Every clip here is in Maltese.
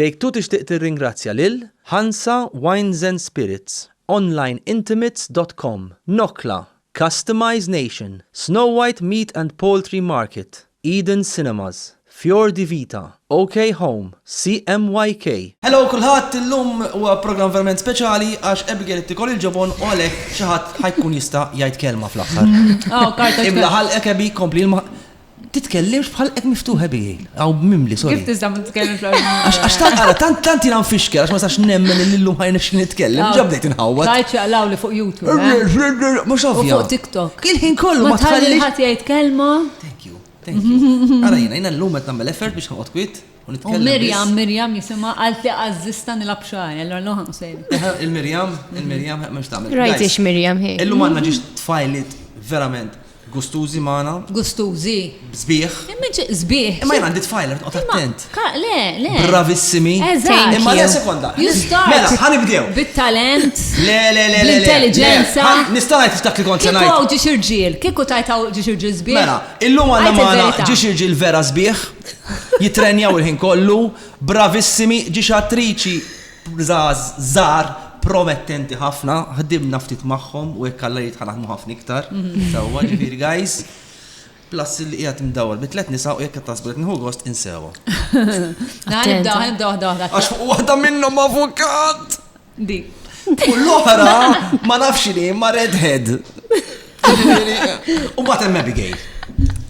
Take Two tixtieq tirringrazzja lil, Hansa Wines and Spirits, onlineintimates dot com, Nokla, Customize Nation, Snow White Meat and Poultry Market, Eden Cinemas, Fior di Vita, OK Home, CMYK, Hello kulħadd, illum huwa programm verament speċjali għax Abigail qed tikol il-ġobon u għalhekk xi ħadd ħa jkun jista' jgħid kelma fl-aħħar. Imla ħalqek Abby, kompli l. Titkellimx bħal qed miftuħ ebijin. Aw mimli, sorry. Kif tista' ma titkellimx bħal mimli? Għax tant għara, tant tant jiena nfixker, għax ma sax nemmen li llum ħajn nifxki nitkellem, ġa bdejt inħawwad. Tajt jaqlaw li fuq YouTube. Eh? Mhux ovvja. Fuq TikTok. Il-ħin kollu ma tħallix. Ħadd jgħid kelma. Thank you. Thank you. Għara jiena, jiena llum qed nagħmel effort biex noqgħod kwiet. U Mirjam, Mirjam jisimha għalt li għażista nilab xari, allora l ħanqu sejn. Il-Mirjam, il-Mirjam, ma xtamil. Rajt ix Mirjam hi. Illum għandna ġiex tfajlit verament gustużi magħna. Gustużi. Zbieħ. Immiġ zbieħ. Imma jgħandi tfajlet, qod attent. Le, le. Bravissimi. Eżatt. Imma le sekonda. Jistgħu. Mela, ħanibdew. Bit-talent. Le, le, le. L-intelligenza. Nista' ngħid f'dak li kont se ngħid. Kieku ġiex irġiel, kieku tajtaw ġiex irġiel zbieħ. Mela, illum għandna magħna ġiex irġiel vera zbieħ. Jittrenjaw il-ħin kollu, bravissimi, ġiex attriċi żgħar promettenti ħafna, ħdimna ftit magħhom u jekk Alla jrid ħa naħdmu ħafna iktar. Sewwa ġifieri guys. Plus li qiegħed mdawwal bi tliet nisa u jekk qed tasbu qed nieħu gost insewha. Nibda, nibda waħda waħda. Għax fuq waħda minnhom avukat! Di. U l-oħra ma nafx li ma redhead. U bat hemm Abigail.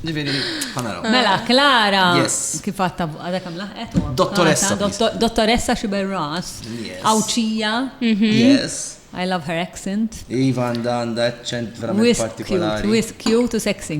Ġifieri, ħanaraw. Mela, Klara, kif għatta għadha kam laħqet? Dottoressa. Dottoressa Xiberras, Awċija. Mhm. Yes. I love her accent. Iva għanda għanda accent verament partikolari. Wis cute u sexy.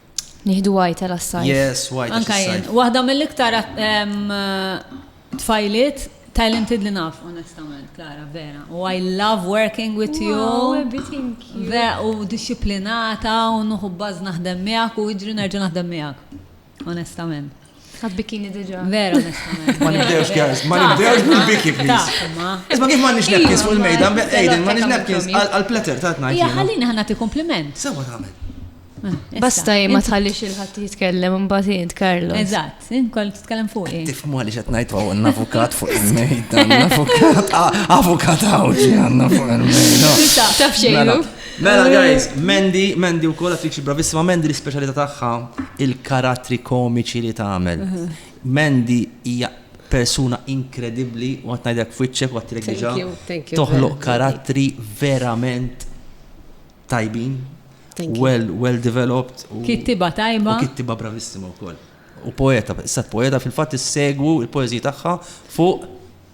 Nieħdu għajta l-assajf. Yes, għajta. Anka jien. Waħda mill-iktar tfajliet talented li naf, onestament, Klara, vera. U I love working with you. Vera, u disciplinata, u nuħu bazz naħdem miegħek, u iġri nerġa' naħdem miegħek. Onestament. Għad bikini diġa. Vera, onestament. Ma nibdewx, guys, ma nibdewx bil-biki, please. Isma kif ma nix napkins fuq il-mejda, Aiden, ma nix napkins għal-pletter ta' tnajn. Ja, ħallini ħanna ti kompliment. Sewa ta' għamil. Eh, Basta jien ma tħallix il-ħadd jitkellem imbagħad jien Karlo. Eżatt, jien kont titkellem fuq jien. Tifhmu għaliex qed ngħid hawn avukat fuq il-mejda, avukat, avukat hawn għandna fuq il-mejda. Taf xejn. Mela, Mela guys, Mandy, Mandy u koll attriċi bravissima, Mandy l-specialità tagħha il-karattri komiċi li tagħmel. Mandy hija persuna inkredibbli u għat ngħidlek f'wiċċek u għattilek diġà. Toħloq karattri verament tajbin. Well, well developed. Kittiba tajba. Kittiba bravissima u koll. U poeta, s-sat poeta fil-fat s-segwu il-poezija tagħha fuq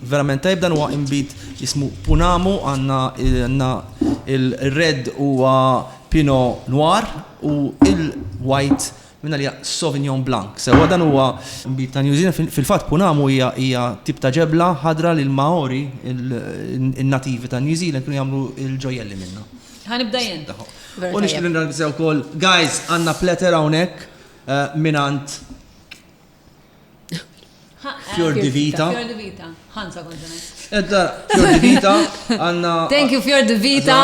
Verament tajjeb dan huwa inbid jismu Punamu għandna għandna il red huwa Pino Noir u il white minn għalija Sauvignon Blanc sewwa dan huwa inbid ta' New Zealand fil-fatt Punamu hija hija tip ta' ġebla ħadra li l-Maori in nativi ta' New Zealand kienu jagħmlu il ġojjelli minnha. Ħa nibda jien. U nixtieq nirringrazzja wkoll guys għandna platter hawnhekk mingħand Fjor di Vita. Fjor di Vita. Ħansa konġunet. Edda, Fjor di Vita, għanna. Thank you, Fjor di Vita.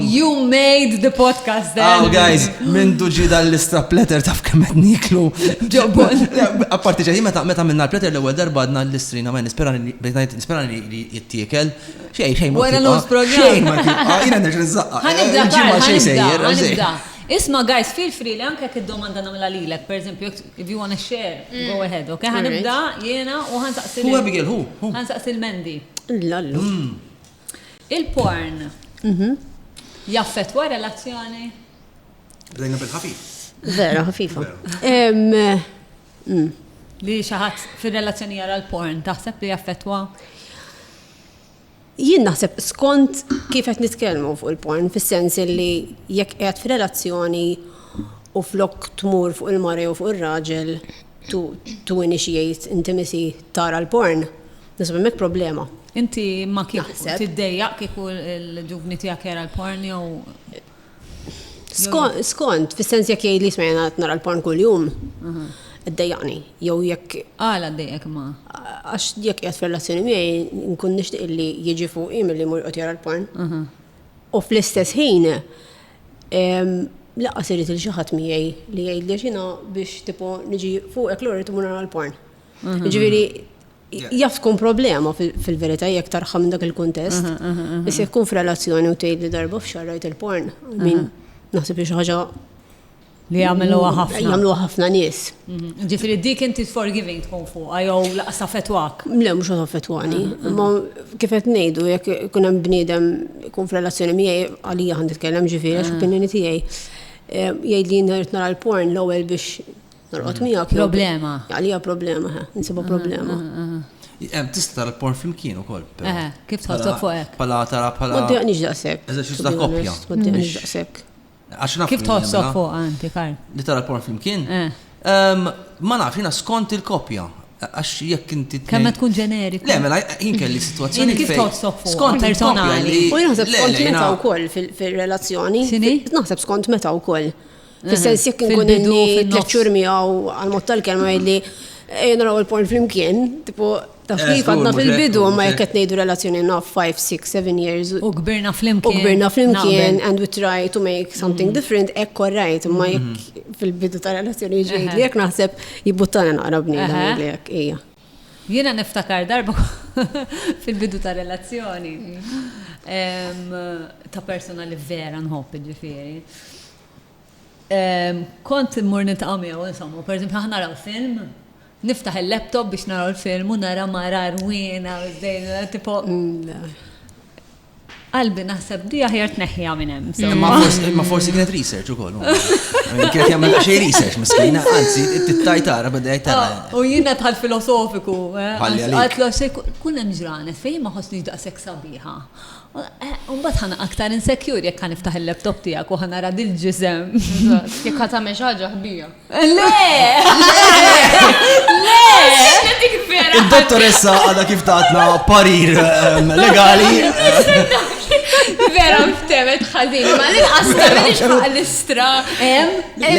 You made the podcast then. Oh, guys, minn duġi dal-lista pletter taf kemmet niklu. Ġobon. Apparti ġeħi, meta meta minna pletter l ewel darba għadna l-istrina, ma nispera li jittiekel. Xej, xej, ma. Wara l-għus program. Jina nerġa nizzaqqa. Għanibda, għanibda. Isma, guys, feel free li anke kid-domanda namla lilek, per eżempju, If you wanna share, go ahead, ok? Ħa nibda jiena u ħa nsaqsi. Hu Abigail, hu, hu. Ħa nsaqsi l-Mendi. Lallu. Il-porn jaffettwa relazzjoni? Bdejna bil-ħafif. Vera, ħafifa. Li xaħat fil-relazzjoni jara l-porn, taħseb li jaffetwa? Jien naħseb skont kif qed nitkellmu fuq il-porn, fis-sens illi jekk qiegħed f'relazzjoni u flok tmur fuq il-mara jew fuq ir-raġel to to initiate intimacy tara l-porn, naħseb hemmhekk problema. Inti ma kienx tiddejjaq kieku l-ġuvni tiegħek jara l-porn jew? Skont, fis-sens jekk jgħid li jisma' jena nara l-porn kuljum, mhm. id-dejjaqni, jew jekk. Għala dejjek ma. Għax jekk jgħat fil-relazzjoni miegħi nkun nixtieq li jiġi fuq im li mur qed jara l-porn. Mhm. U fl-istess ħin laqas irid il xi ħadd miegħi li jgħidli xina biex tipo niġi fuqek l-ora timur nara l-porn. Mhm. Ġifieri Jaf tkun problema fil-verità jekk tarħam minn dak il-kuntest. Issa jkun f'relazzjoni u tgħid li darba f'xahar rajt il-porn. Min naħseb li xi ħaġa li jagħmluha ħafna. Jagħmluha ħafna nies. Ġifieri dik inti forgiving tkun fuqha jew laqas taffettwak? Le mhux qed taffettwani. Imma kif qed ngħidu jekk ikun hemm bniedem ikun f'relazzjoni miegħi għalija ħa nitkellem ġifieri għax opinjoni tiegħi jgħidli jien irid nara l-porn l-ewwel biex Norqod mm. miegħek. Problema. Għalija problema, ha, nsibu problema. Hemm tista' tara porn flimkien ukoll. Eh, kif tħossok fuq hekk? Pala tara pala. Ma ddeqniex daqshekk. Eżerċiż ta' koppja. Ma ddeqniex daqshekk. Kif tħossok fuq anti, Karl? Li tara porn flimkien? Eh. Ehm, ma nafx, jina skont il-kopja. Għax jekk inti. Kemm tkun ġeneriku. Le, mela jien kelli situazzjoni. Kif toħsob fuq? Skont personali. U naħseb skont meta wkoll fil-relazzjoni. Naħseb skont meta wkoll. Fis-sens jekk inkun inni tliet xhur miegħu għal-mod tal-kelma jgħidli ejja naraw il-porn flimkien, tipo taf eh, kif għadna fil-bidu ma jekk qed ngħidu relazzjoni naf 5, 6, 7 years. U kbirna flimkien. U kbirna flimkien and we try to make something mm. different hekk korrajt ma jekk mm-hmm. fil-bidu ta' relazzjoni ġejli jekk naħseb jibbuttana naqra bniedem li jekk hija. Jiena niftakar darba fil-bidu ta' relazzjoni mm. ta' persona li vera nħobb ġifieri. Kont immur niltaqa' miegħu, insomma, pereżempju aħna naraw film, niftaħ il-laptop biex naraw il-film u nara mara rwiena, żdejna, tipo. Qalbi naħseb di aħjar tneħħiha minn hemm. Ma forsi kienet research ukoll. Kienet jagħmel xejn research miskina, anzi tittaj tara bada tara. Ah, u jiena tħall filosofiku, eh, għatlu xejn kun hemm ġranet fejn ma ħossni daqshekk sabiħa. Imbagħad ħa naqa' aktar insecure jekk ħa niftaħ il-laptop tiegħek u ħa nara dil-ġisem. Jekk ħa tagħmel xi ħaġa ħbija. Le! Le! Id-dottoressa għadha kif tatna parir ehm, legali. Vera, ftemet ħażin, ma l-inqas tagħmel l-istra. Le,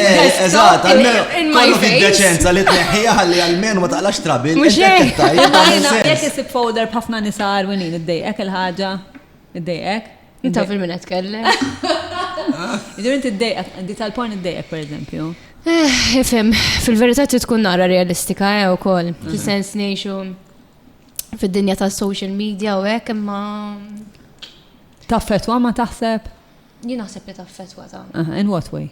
eżatt, almenu kollok id-deċenza li tneħħija ħalli almenu ma taqlax trabil. Mux jek, jek isib folder b'ħafna nisa arwinin id-dejqek il-ħagġa, id-dejqek. Inta fil-min għetkelle. Ġur inti id-dejqek, di tal-porn id-dejqek, per eżempju. Eh, Ifem, fil-verità tkun nara realistika, eh, u koll. Mhm. Fil-sens nejxu fil-dinja ta' social media u hekk imma. Taffetwa ma taħseb? Jien naħseb li taffetwa ta'. Aha, in what way?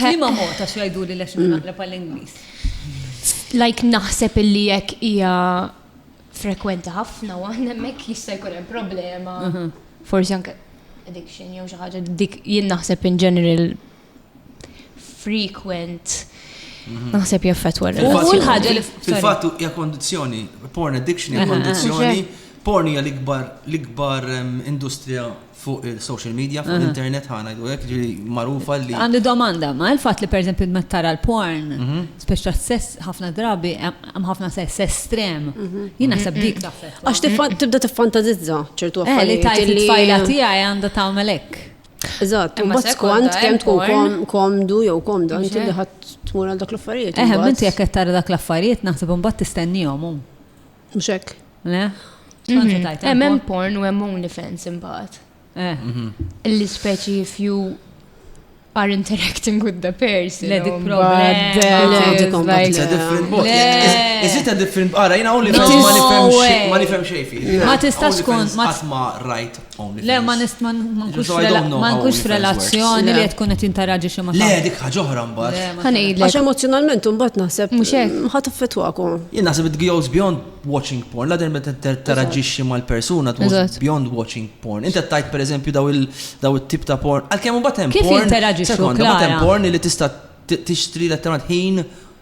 Lima mod ta' xajdu li lex naqleb għall-Inglis. Like naħseb illi jekk hija frekwenti ħafna u aħna hemmhekk jista' jkun hemm problema. Mhm. Forsi anke addiction jew xi ħaġa dik jien naħseb in general frequent mhm. naħseb jaffetwa l-ħagġa fil-fatt hija kondizzjoni, porn addiction hija kondizzjoni, porn hija l-ikbar l-ikbar industrija fuq il-social media, fuq l-internet ħana jgħidulek ġiri marufa li. Għandi domanda, ma il-fat li per eżempju ma tara l-porn, mhm. speċa sess ħafna drabi, hemm ħafna sess estrem. Mhm. Jien naħseb dik Għax tibda tiffantażizza ċertu eh, affarijiet. Li tajt il-tfajla tiegħi għandha tagħmel hekk. Eżatt, imma skont kemm tkun komdu jew komda inti li ħadd tmur għal dak l-affarijiet. Eħe, inti jekk qed tara dak l-affarijiet naħseb imbagħad tistennihom hu. Mhux hekk. Le? Hemm hemm porn u hemm OnlyFans imbagħad. Eh. Mhm. Illi speċi if you are interacting with the person. Le di problem. Is it a different Ara, jina u li ma nifem xej fi. Ma tistax kun. Ma tisma rajt Le, ma nist ma nkunx f'relazzjoni li tkun qed interaġi xi ma. Le, dik ħaġa oħra mbagħad. Ħanejlek. Għax emozjonalment imbagħad naħseb mhux hekk. Ħadd affettwakom. Jien naħseb it goes beyond watching porn, la der meta teraġixxi mal-persuna tmur beyond watching porn. Inti tajt pereżempju daw it-tip ta' porn. Għalkemm imbagħad hemm porn. Kif interaġixxu? Hemm porn li tista' tixtri letteralment ħin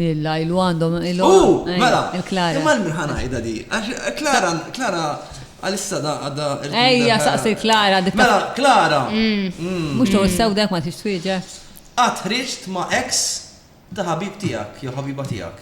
Illa, ilu għandhom ilu. U, mela, imma l-min ħanajda di. Klara, Klara, għalissa da għadda. Ejja, saqsi Klara. Mela, Klara. Mm. Mm. Mux tuħu sew dak ma tix twieġa. Għatħriġt ma ex ta' ħabib tijak, jew ħabiba tijak.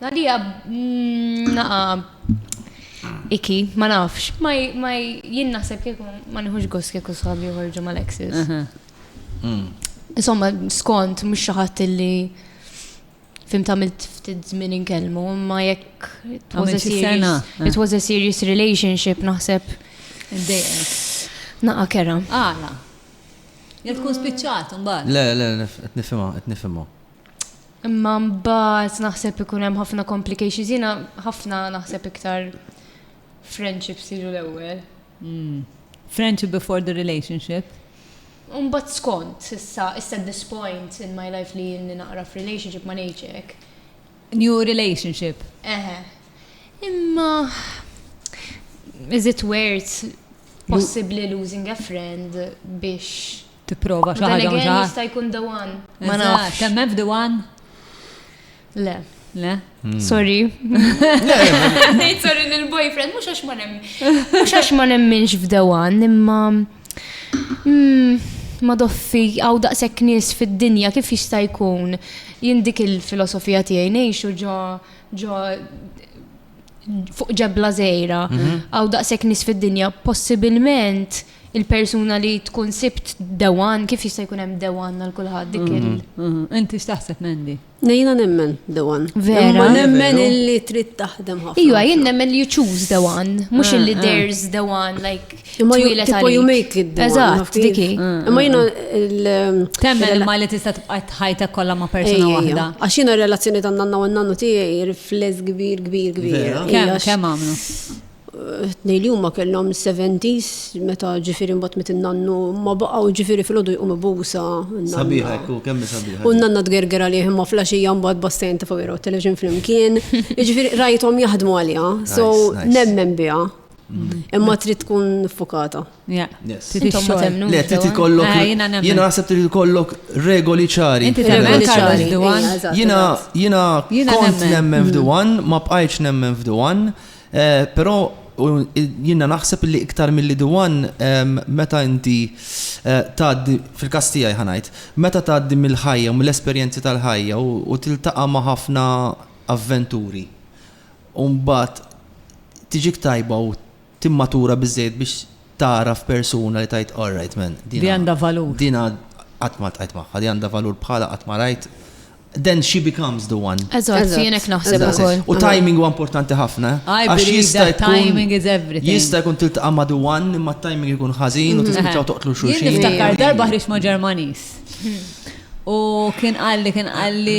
Għalija, naqa, iki, ma nafx, ma jien naħseb kieku ma nħuġ gos kieku sħabi uħorġu ma l-exis. Mm. Insomma, skont, mux xaħat li fim tamilt ftit zmin inkellmu, ma jekk it was a serious, it was a serious relationship naħseb. Dejqek. Naqa kera. Għala. Jek tkun spiċċat, mbagħad. Le, le, qed nifhimha, qed nifhimha. Imma mbagħad naħseb ikun hemm ħafna complications. Jiena ħafna naħseb iktar friendships jiġu l-ewwel. Hmm. Friendship before the relationship. Mbagħad skont, issa, issa at this point in my life li jinni naqra f'relationship ma ngħidx New relationship. Eħe. Imma is it worth possibly losing a friend biex tipprova xi ħaġa mhux ħaġa. Jista' jkun the one. Ma nafx. Temmen f'the one? Le. Le? Hmm. Sorry. Nejt sorry lill-boyfriend, mhux għax ma nemmen. Mhux għax ma nemmenx f'the one, imma hmm, ma doffi għaw daqshekk nies fid-dinja kif jista' jkun jindik il-filosofija tiegħi ngħixu ġo ġo fuq ġebla żgħira mhm. għaw daqshekk nies fid-dinja possibilment il-persuna li tkun sibt dewan, kif jista' jkun hemm dewan għal kulħadd dik il. Mhm, mhm. Inti x'taħseb Mendi? Nejna nemmen dewan. Vera. Ma nemmen illi trid taħdem ħafna. Ija, jien nemmen li you choose dewan, mhux eh, illi eh. there's dewan like Imma Twilet tipo you għalik. make it the one, Eżatt, nafti? dik hi. Imma jina il- Temmen il- imma li tista' tibqa' ħajtek kollha ma' persuna Ejja, ejja. waħda. Għax jina relazzjoni tan nanna u nannu tiegħi rifless kbir, kbir, kbir. Vera? Ejja, Kemm għax kemm għamlu? tnej li huma kellhom 70s meta ġifieri mbagħad met in-nannu ma baqgħu ġifieri fil-ħodu jqumu busa. n-nanna. Sabiħa, ekku, kemmi sabiħa. U n-nanna tgerger għalih imma flaxija mbagħad bastajn ta' fuq teleġin flimkien. Ġifieri rajthom jaħdmu għaliha, so Nice, nice. nemmen biha. Imma trid tkun fukata. Intom ma temnu. Le, trid ikollok. Ah, jiena nemmen. Jiena naħseb trid ikollok regoli ċari. Inti temmen Regoli Carlos ċari. Duan? Ija, eżatt, Jiena eżatt. jiena Jiena kont nemmen. nemmen f'Duan, ma bqajtx nemmen f'Duan, eh, però u, jiena naħseb li iktar milli Duan em, meta inti eh, tgħaddi fil-każ tiegħi ħa ngħid, meta tgħaddi mill-ħajja u mill-esperjenzi tal-ħajja u, u tiltaqa' ma' ħafna avventuri. u mbagħad tiġik tajba u timmatura biżżejjed biex tagħraf persuna li tgħid all right man, Li għandha valur. din għad qatt ma ltqajt magħha, din għandha valur bħalha qatt ma rajt, then she becomes the one. Eżatt, Eżatt, jien hekk naħseb eżatt. ukoll. U timing huwa importanti ħafna. eh? I Għax believe jista' that jkun- timing is everything. Mhm. Jista' jkun tiltaqa' ma' the one imma t-timing ikun ħażin u tispiċċaw toqtlu Jien xulxin. niftakar darba ħriġt ma' Ġermaniż. U kien qalli, kien qalli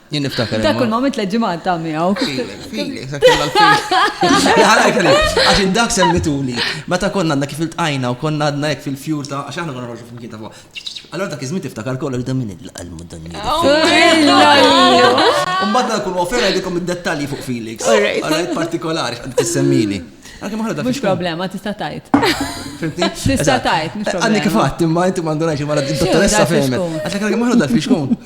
Jien niftakar. Dak kull ma mit tliet ġimgħat ta' miegħu. Għax dak semmituli. Meta konna għandna kif iltqajna u konna għadna hekk fil-fjur ta' għax aħna konna nħorġu flimkien ta' fuq. Allora dak iż-żmien tiftakar kollu li damin il-qalmu dan. Mbagħad dak kull ofera jdikom id-dettalji fuq Felix. Għalhekk partikolari x'qed tissemmili. Għanki maħra da Mux problema, tista tajt. Fimtni? Tista tajt, mux problema. Għanni kifat, imma inti mandunajx, imma d-dottoressa fejmet. Għatlek għanki maħra da fiex kun.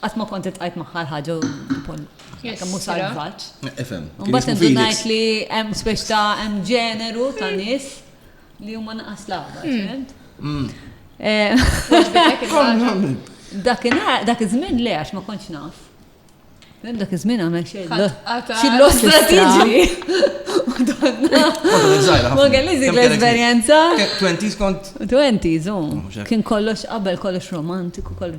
Qatt ma kont iltqajt magħha l-ħaġa u nkoll kemm hu salvaġġ. Ifhem. Mbagħad indunajt li hemm speċi ta' hemm ġeneru ta' nies li huma naqas l-aħbar, hmm. fimt? Hmm. Eh, dak iż-żmien le għax ma kontx naf. Mem dak iż-żmien għamel xejn. Xillu strateġi. Ma kellix dik l-esperjenza. 20s kont. 20s, oh. oh, Kien kollox qabel kollox romantiku, kollox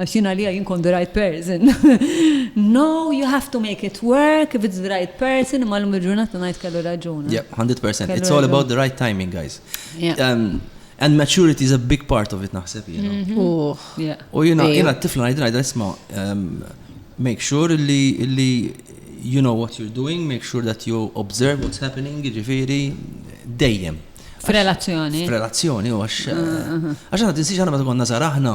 Għax jien għalija jien kont the right person. No, you have to make it work if it's the right person, imma l-lum il-ġurnata ngħid kellu raġun. Yeah, 100%. It's all about the right timing, guys. Yeah. Um, And maturity is a big part of it naħseb jena. Mhm. U jena, jena t-tifla għajdin għajdin isma, um, make sure li, li you know what you're doing, make sure that you observe what's happening, ġifiri, dejjem. F'relazzjoni. F'relazzjoni, u għax. Ah, ah, ah. Għax għana t-insiex għana ma t-għonna zaraħna.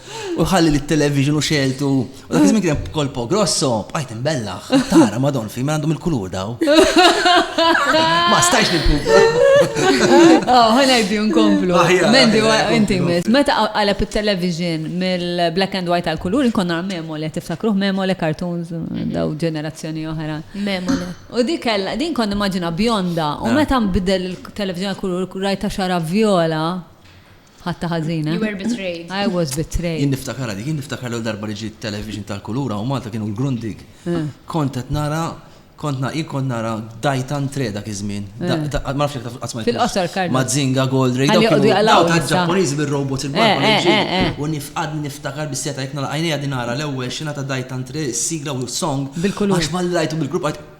U ħalli li t-television u xeltu. U dak iżmin kien kolpo grosso, bqajt imbellaħ. Tara, madon, fi ma għandhom il-kulur daw. Ma stajx nil-kupa. Oh, ħana jibdi nkomplu. Ah, Mendi, inti mis. Meta għalab il-television mill-black and white għal-kulur, nkonna memole, tiftakruħ memole, cartoons, daw ġenerazzjoni oħra. Memole. U di kella, din konna maġina bjonda, u ah. meta nbidel il-television għal-kulur, rajta xara viola, Ħadtha ħażin, eh? You were betrayed. I was betrayed. Jien niftakarha dik, jien niftakar l-ewwel darba li ġiet television tal-kulur hawn Malta kienu l-Grundig. Kont qed nara, kont na, jien kont nara Daitan Tre dak iż-żmien. Da- da- Ma nafx jekk taf qatt smajt. Fil-qosor, Carlo. Mazinga, Gold Ray, Ħalli dawk joqogħdu kienu jaqlgħu dawk issa. tal-Ġappuniżi bir-robots il-barba Eh, li eh, ġieli. eh, eh. U nifqadni niftakar bis seta' jekk nagħlaq għajnejja qegħdin nara l-ewwel xena ta' Daitan Tre, is-sigla u s-song. Bil-kulur. Għax malli rajtu bil-kulur bqajt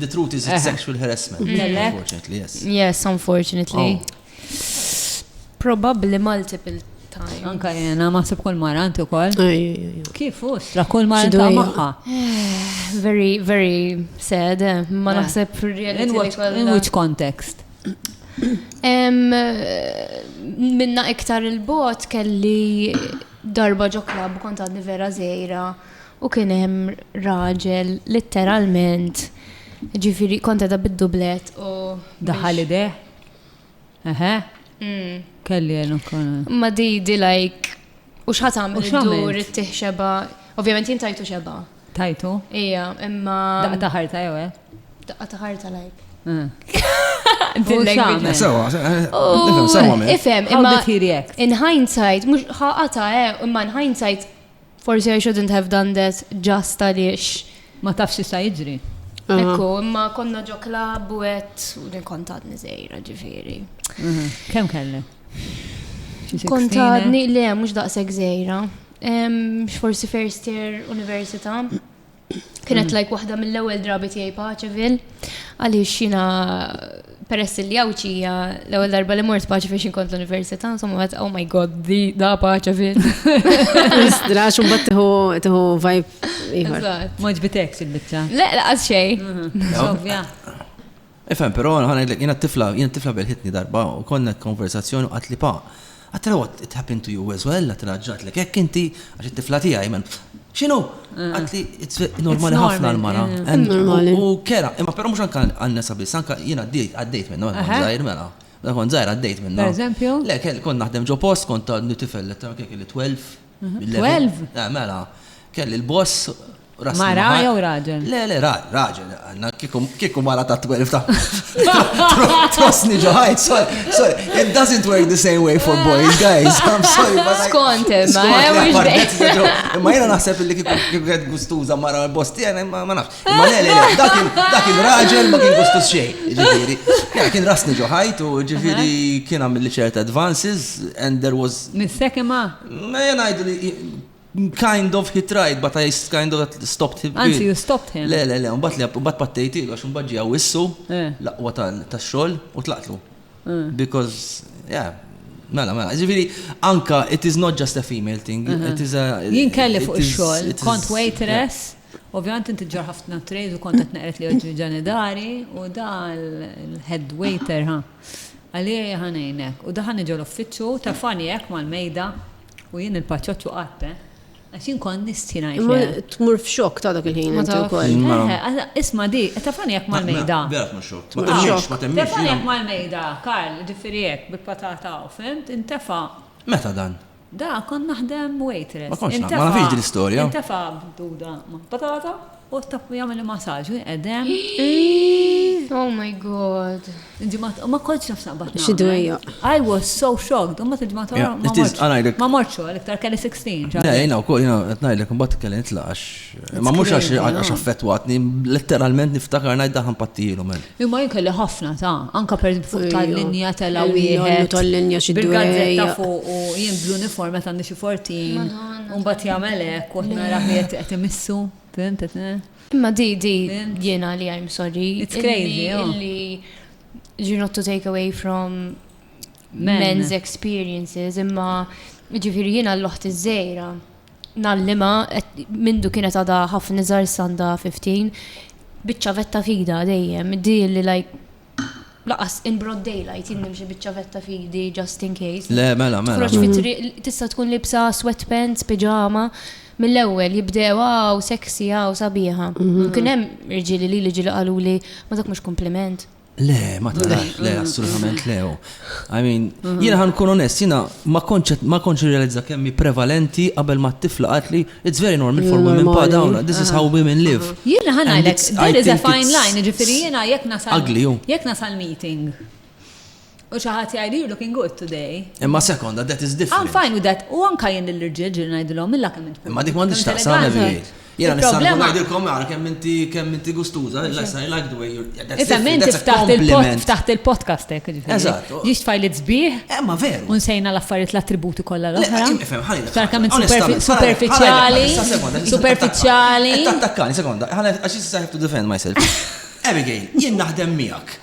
The truth is it's sexual harassment. Unfortunately, yes. Yes, unfortunately. Oh. Probably multiple times. Anka jena, ma sib kol mara, anti kol. Kif us, la kol mara ta' maħħa. Very, very sad. Eh. Ma naħseb In which context? Minna iktar il-bot kelli darba ġo klab kont għadni vera zejra. u kien hemm raġel litteralment ġifieri kont qegħda bid-dublett u daħal ideh. Eħe. Mm. Kelli għenu kon. Ma di di like u x'ħat għamil dur it-tih xeba. Ovvjament jien tajtu xeba. Tajtu? Ija, imma. Daqqa taħarta jew eh? Daqqa taħarta like. Eh. Ifem, imma in hindsight, mux ħaqata, eh, imma in hindsight Forsi I shouldn't have done that just għaliex. Ma tafx x'jista' jiġri. Ekku, imma konna ġo klab u għet u din kont għadni żgħira ġifieri. Kemm kelli? Kont għadni le mhux daqshekk żgħira. X'forsi first year università. Kienet like waħda mill-ewwel drabi tiegħi Paċevil, għaliex xina peress li għawċi l-ewwel darba li mort Paċevil xin kont l-università, insomma għad, oh my god, di da Paċevil. Istra, xum bat tiħu vibe. Maġbitek il-bicċa. Le, laqas xej. Mhm. Ovvja. Ifhem, però, ħa ngħidlek, jiena t-tifla, jiena t-tifla belħitni darba u konna konversazzjoni u qaltli, Pa, għattilha what, it happened to you as well, għattilha ġratlek hekk inti, għax it-tifla tiegħi, mela, x'inhu? Qaltli, it's normali ħafna għal mara. U kera, imma però mhux anke għan-nisa biss, anke jiena għaddejt minnha meta kont żgħir, mela. Meta kont żgħir għaddejt minnha. Pereżempju? Le, kont naħdem ġo post, kont għadni tifel, kelli 12, 12? Eh, mela, kelli l-boss Mara jew raġel? Le, le, raġel, għanna kiku mara ta' 12 ta' trosni ġoħajt, sorry, sorry, it doesn't work the same way for boys, guys, I'm sorry, but Skont, eh, ma Ma jena naħseb li kiku għed gustuza mara l-bosti, għana eh, ma nafx. Ma le, le, dakin, dakin raġel ma kien gustuz xej, ġifiri. Kien kien rasni ġoħajt u ġifiri kien għamil ċerta advances and there was. Nissekima? Ejja ngħidu li kind of he tried, but I kind of stopped him. Anzi, you stopped him. Le, le, le, un bat li un bat pattejti, għax un bħagġi għawissu eh. laqwa ta' xol u tlaqtlu. Eh. Because, yeah, Mela, mela, ġifiri, anka, it is not just a female thing, eh. it is a... Jien kelli fuq il-xol, kont waitress, Ovvijament inti ġar ħafna trejz u kont qed neqret li oġġi ġanidari u da l-head waiter ha. Għalieja ħa ngħinek. U daħalni ġol-uffiċċju u tefagħni hekk mal-mejda u jien il-paċoċċu qatt, eh! Għax jien kont nistħi ngħid lejha. Imma tmur f'xokk ta' dak il-ħin inti wkoll. Ma tafx. Eħe, għala, isma' di, tefagħni hekk mal-mejda. Ma, vera tmur xokk. Ma temmnix, ma temmnix. Tefagħni hekk mal-mejda, Karl, jiġifieri hekk, bil-patata hawn, fhimt? Intefa'. Meta dan? Da, kont naħdem waitress. Ma kontx naf, ma nafhiex din l-istorja. Intefa' b'duda ma' patata u tappu jagħmel masaġ u jqedem. Oh my god. Ġimgħat, ma kontx naf saqbat. Xi dwejja. I was so shocked, u ma tiġmgħat oħra. Ma morċu, l-iktar kelli 16. Le, jina wkoll, jina qed ngħidlek imbagħad kelli nitlaqax. Imma mhux għax affettwatni, letteralment niftakar ngħid daħan pattijilu men. Imma jien kelli ħafna ta' anka per fuq tal-linja tela' wieħed. Tal-linja xi bil-gazzetta fuq u jien bl-uniform meta għandi xi fortin. Mbagħad jagħmel hekk u nara qiegħed qed imissu, fhimt Imma di di jiena li I'm sorry. It's crazy. Illi you're not to take away from men's experiences imma ġifieri jiena l-oħt iż-żejra. nallima mindu kienet għada ħafna iżgħar sanda 15 biċċa vetta fida dejjem di li lajk laqas in broad daylight jien nimxi biċċa vetta fidi just in case. Le, mela, mela. Froċ fitri tista' tkun libsa sweatpants, pijama, mill-ewwel jibdew għaw sexy għaw sabiħa. Mhm. Kien hemm irġieli li li ġili qalu li ma dak mhux kompliment. Le, ma tarax, le, assolutament le. Oh. I mean, mhm. jina ħan kun onest, jina ma konċet, ma konċet realizza kemmi prevalenti qabel ma t-tifla għatli, it's very normal for women pa dawna, this is how women live. Mhm. Jina ħan għalek, there is a fine line, ġifiri jina jek nasal. Ugly, oh. Jek nasal meeting. U xi ħadd jgħidu you're looking good today. Imma sekonda, that is different. I'm fine with that. U anka jien lill-irġiel ġiri ngħidilhom illa kemm int. Imma dik m'għandix taqsam elegant. Jiena nista' ngħidilkom ara kemm inti kemm inti gustuża, I like the way you're. Issa minn ftaħt il-podcast hekk ġifieri. Eżatt. Ġiex tfajlit sbieħ. Eh, ma veru. U nsejna l-affarijiet l-attributi kollha l-oħra. Ifhem ħalli. Sar kemm int superfiċjali. Superfiċjali. Tattakkani, sekonda, ħalli għax issa have to defend myself. Abigail, jien naħdem miegħek.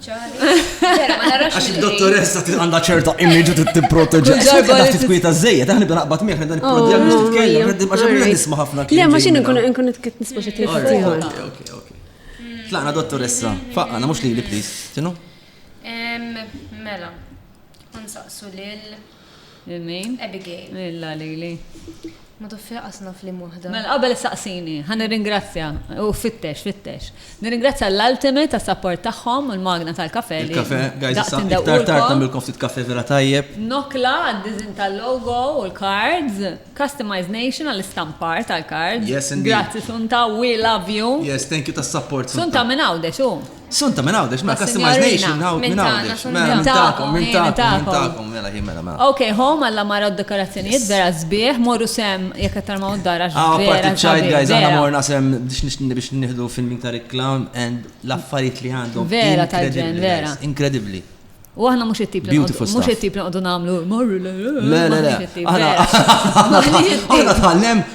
Għax il-dottoressa għandha ċerta image u tipproteġi. Ġar għal titkwita żejjed, aħna bda naqbad miegħek dan il-prodjam biex titkellem, għax għamilna nisma' ħafna kien. Le, ma x'in nkun nkun nitkitt nisma' xi tieħu. Okej, okej. Tlaqna dottoressa, faqqana mhux lili please, tinu? Mela, nsaqsu lil Lil min? Abigail. Lilha lili. Ma toffi laqas naf liem waħda. Mela qabel issaqsini, ħa nirringrazzja, u fittex, fittex. Nirringrazzja l-Ultimate għas-sapport tagħhom u l-magna tal-kafè li Il-kafè, guys, daqs issa iktar tard indewqulkom. nagħmlilkom ftit kafè vera tajjeb. Nokla għad-diżinn tal-logo u l-cards. Customize Nation għall-istampar tal-cards. Yes, indeed. Grazzi Sunta, we love you. Yes, thank you tas-sapport, Sunta. Sunta minn Għawdex hu. Sunta, minn Għawdex, mela customized nation minn Għawdex. Minn Għawdex, mela minn tagħkom, minn tagħkom, minn tagħkom, mela hi mela mela. Ok, home alla mara d-dekorazzjonijiet vera sbieħ, morru sem jekk qed tarmaw d-dar għax. Aw, parti ċajt guys, aħna morna sem biex nieħdu filming ta' Rick Clown and l-affarijiet li għandhom. Vera tajġen, vera. Inkredibbli. U aħna mhux it-tip li mhux it-tip li nqogħdu nagħmlu morru le le le le. Aħna aħna tħallem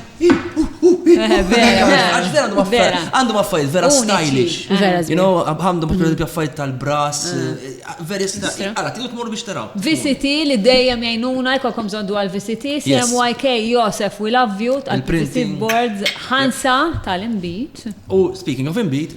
għandhom affarijiet vera stylish. You know, għandhom per esempio affarijiet tal-brass, very stylish. Għala, tidu tmur biex taraw. VCT li dejjem jgħinuna jkollkom żondu għal VCT, CMYK, Josef, we love you, tal-printing boards, ħansa tal-imbit. U speaking of imbit,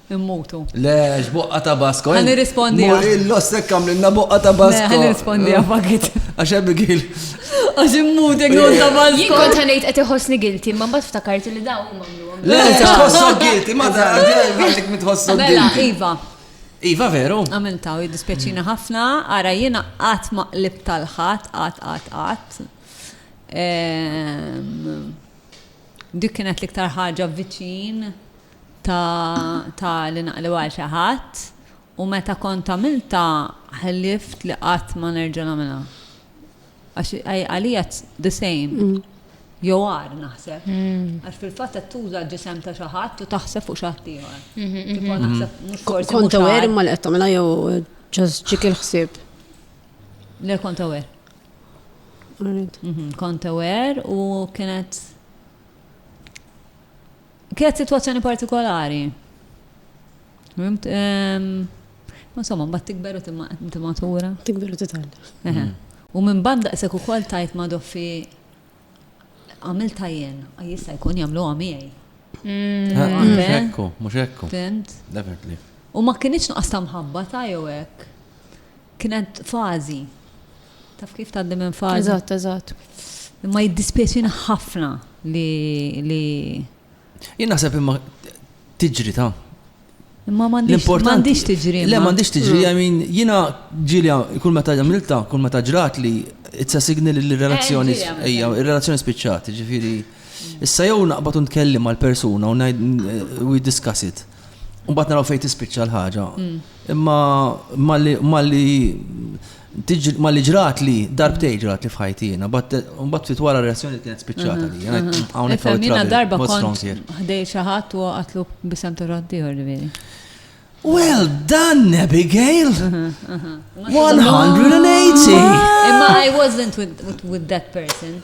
Immutu. Le, x'boqqa ta' Basko. Ħa nirrispondi. Murillo s-sekk għamlilna boqqa ta' Basko. Ħa nirrispondi għafakit. Għax Abigail. Għax immut jek non ta' Basko. Jien kont ħanejt qed iħossni gilti, ma mbagħad ftakart li daw huma għamluhom. Le, tħossok gilti, ma da għandek mitħossok gilti. Mela, iva. Iva veru. Għamilta u jiddispjaċina ħafna, ara jiena qatt ma qlib tal-ħadd, qatt qatt qatt. Ehm, dik kienet l-iktar ħaġa viċin ta' ta' li naqleb għal xi ħadd u meta kont għamiltha ħlift li qatt ma nerġa' nagħmilha. Għax għalija the same. Mm. Jew għar naħseb. Mm. Għax fil-fatt qed tuża ġisem ta' xi ħadd u taħseb fuq xi ħadd ieħor. Mm-hmm, Kif mm-hmm. naħseb mm-hmm. mhux forsi. Kont aware imma li qed tagħmilha jew ġast ġik il-ħsieb. Le kont aware. Kont aware u kienet Kienet sitwazzjoni partikolari. Fimt? Insomma, mbagħad tikber u timatura. Tikber u titgħallem. U minn banda isek ukoll tajt ma' doffi għamil tajjen, jista' jkun jagħmlu għamiegħi. Mm. Ah, ah, mhux ekku, mhux ekku. Fimt? Definitely. U ma kienx nuqqas ta' mħabba ta' jew hekk. Kienet fażi. Taf kif tgħaddi minn fażi? Eżatt, eżatt. Imma jiddispjaċina ħafna li li. Jien naħseb imma tiġri ta' Imma m'għandix tiġri. Le m'għandix tiġri, I mean, jiena ġilja kull meta ġamilta, kull meta ġrat li it's a signal li relazzjoni ejja, ir-relazzjoni spiċċat, ġifieri. Issa jew naqbad u ntkellim mal-persuna u ngħid we discuss it. Mbagħad naraw fejn tispiċċa l-ħaġa. Mm. Imma malli malli ġrat li darbtej ġrat li fħajti jena, mbagħad fit wara reazzjoni kienet spiċċata li jena mm-hmm. hawnhekk mm-hmm. jiena darba kont ħdej xi ħadd u għatlu bisem torrad ieħor li Well done, Abigail! 180! Imma I wasn't with, with, with that person.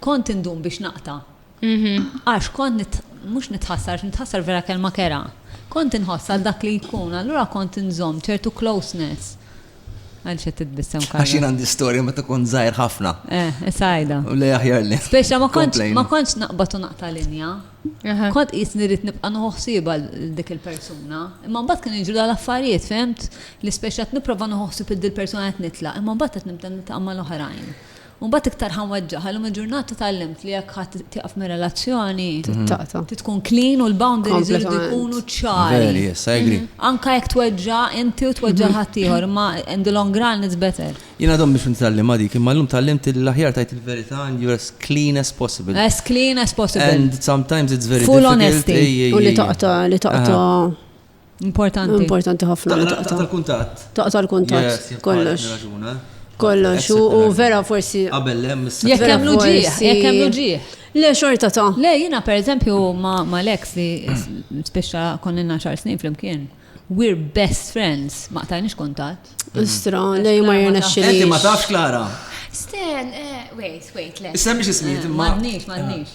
Kont indum biex naqta'. Għax kont, mhux nitħassar, għax nitħassar vera kelma kerha. Kont inħoss għal dak li jkun, allura kont inżomm ċertu closeness. Għaliex qed titbissem Carlo? Għax jien għandi storja meta kont żgħir ħafna. Eh, issa għidha. U lej aħjar li. Speċa ma kontx ma kontx naqbad u naqta' linja. Kont qis nirrid nibqa' noħsib għal dik il-persuna. Imma mbagħad kien jiġru l-affarijiet, fehmt? Li speċa qed nipprova noħsib id-persuna qed nitlaq, imma mbagħad qed nibda nitqamma l-oħrajn. U mbagħad iktar ħa nweġġaha, illum il-ġurnata tgħallimt li jekk ħa tieqaf mir-relazzjoni, trid tkun clean u l-boundaries iridu jkunu ċari. Veri, yes, I agree. Anka jekk tweġġa' inti u tweġġa' ħaddieħor, imma in the long run it's better. Jien għadhom biex nitgħallimha dik, imma llum tgħallimt li l-aħjar tgħid il-verità and you're as clean as possible. As clean as possible. And sometimes it's very difficult. Full honesty. U li taqta' li taqta' Importanti. Importanti ħafna. Taqta l-kuntat. Taqta l-kuntat. Kollox. Kollox. U vera forsi. Qabel lem. Jek hemm luġieħ. Jek hemm luġieħ. Le xorta ta'. Le jina per eżempju ma' l-ex li speċa konnina xar snin fl-imkien. We're best friends. Ma' tajnix kuntat. Istra, le ma jirna xil. Enti ma tafx Klara. Sten, eh, wait, wait, le. Isem biex ismiet, eh, ma. Madnix, madnix.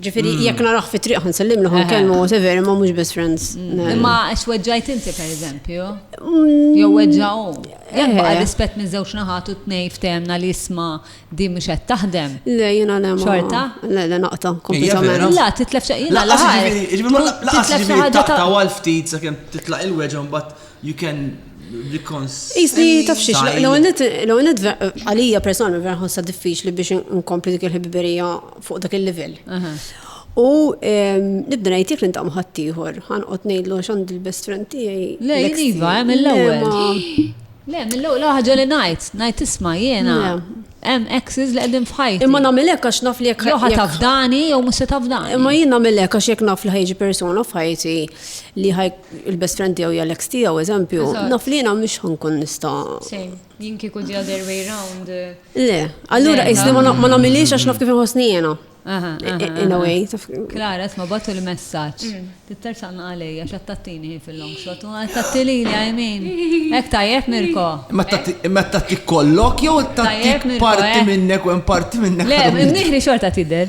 Ġifiri, mm. jekk naraħ fi triq ħansellim li kelmu, whatever, imma mhux best friends. Mm. Imma għax weġġajt inti per eżempju. Mm. Jew weġġaw. Jekk baqa' rispett minn żewġ naħat u tnej ftemna li jisma' di mhux qed taħdem. Le jiena le Xorta? Le le naqta kompletament. La titlef xi ħaġa. Titlef xi ħaġa ta' ftit sakemm titlaq il-weġġa mbagħad You can reconcile. Jisni tafxiex, l-għonet eh, għalija personalment vera ħossa diffiċ li biex nkompli dik il-ħibiberija fuq dak il-level. U ehm, nibda ngħidlek li ntam ħaddieħor, ħanqod ngħidlu x'għand il-best friend tiegħi. Le, jiva, hemm l-ewwel. Le, mill-ewwel ħaġa li ngħid, ngħid isma' jiena hemm exes li qegħdin f'ħajti. Imma nagħmel hekk għax naf li jekk jew tafdani jew mhux se tafdani. Imma jien nagħmel hekk għax jekk naf li ħajġi persuna f'ħajti li ħaj il-best friend tiegħu hija l-ex tiegħu, eżempju, naf li jiena mhux ħankun nista'. Sejn, jien kieku the other way round. Le, allura qisni ma nagħmilix għax naf kif inħossni jiena. In a way. Klara, isma' batu l-messaġġ. Mm. Titter sanna għalej għax qed tattini fil-long shot u qed tattili li għajmin. Hekk tajjeb Mirko. Imma tatti kollok jew tattik parti eh? minnek u parti minnek. Le, mnieħri xorta tidher.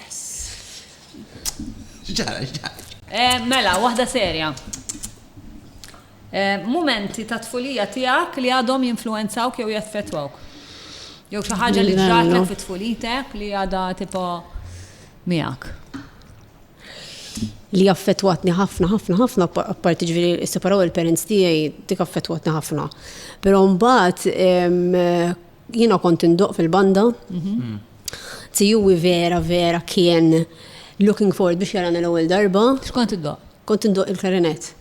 X'ġara, x'ġara? Eh, mela, waħda serja. Eh, mumenti ta' tfulija tiegħek li għadhom jinfluenzawk jew jaffettwawk. Jew xi ħaġa li ġratlek fit tfulitek li għadha tipo miegħek. Li affettwatni ħafna, ħafna, ħafna, apparti ġviri separaw il-parents tiegħi dik affettwatni ħafna. Però mbagħad Jiena kont indoq fil-banda. Mhm. Tijuwi vera, vera kien looking forward biex jarana l-ewwel darba. X'kont indoq? Kont indoq il-klarinet.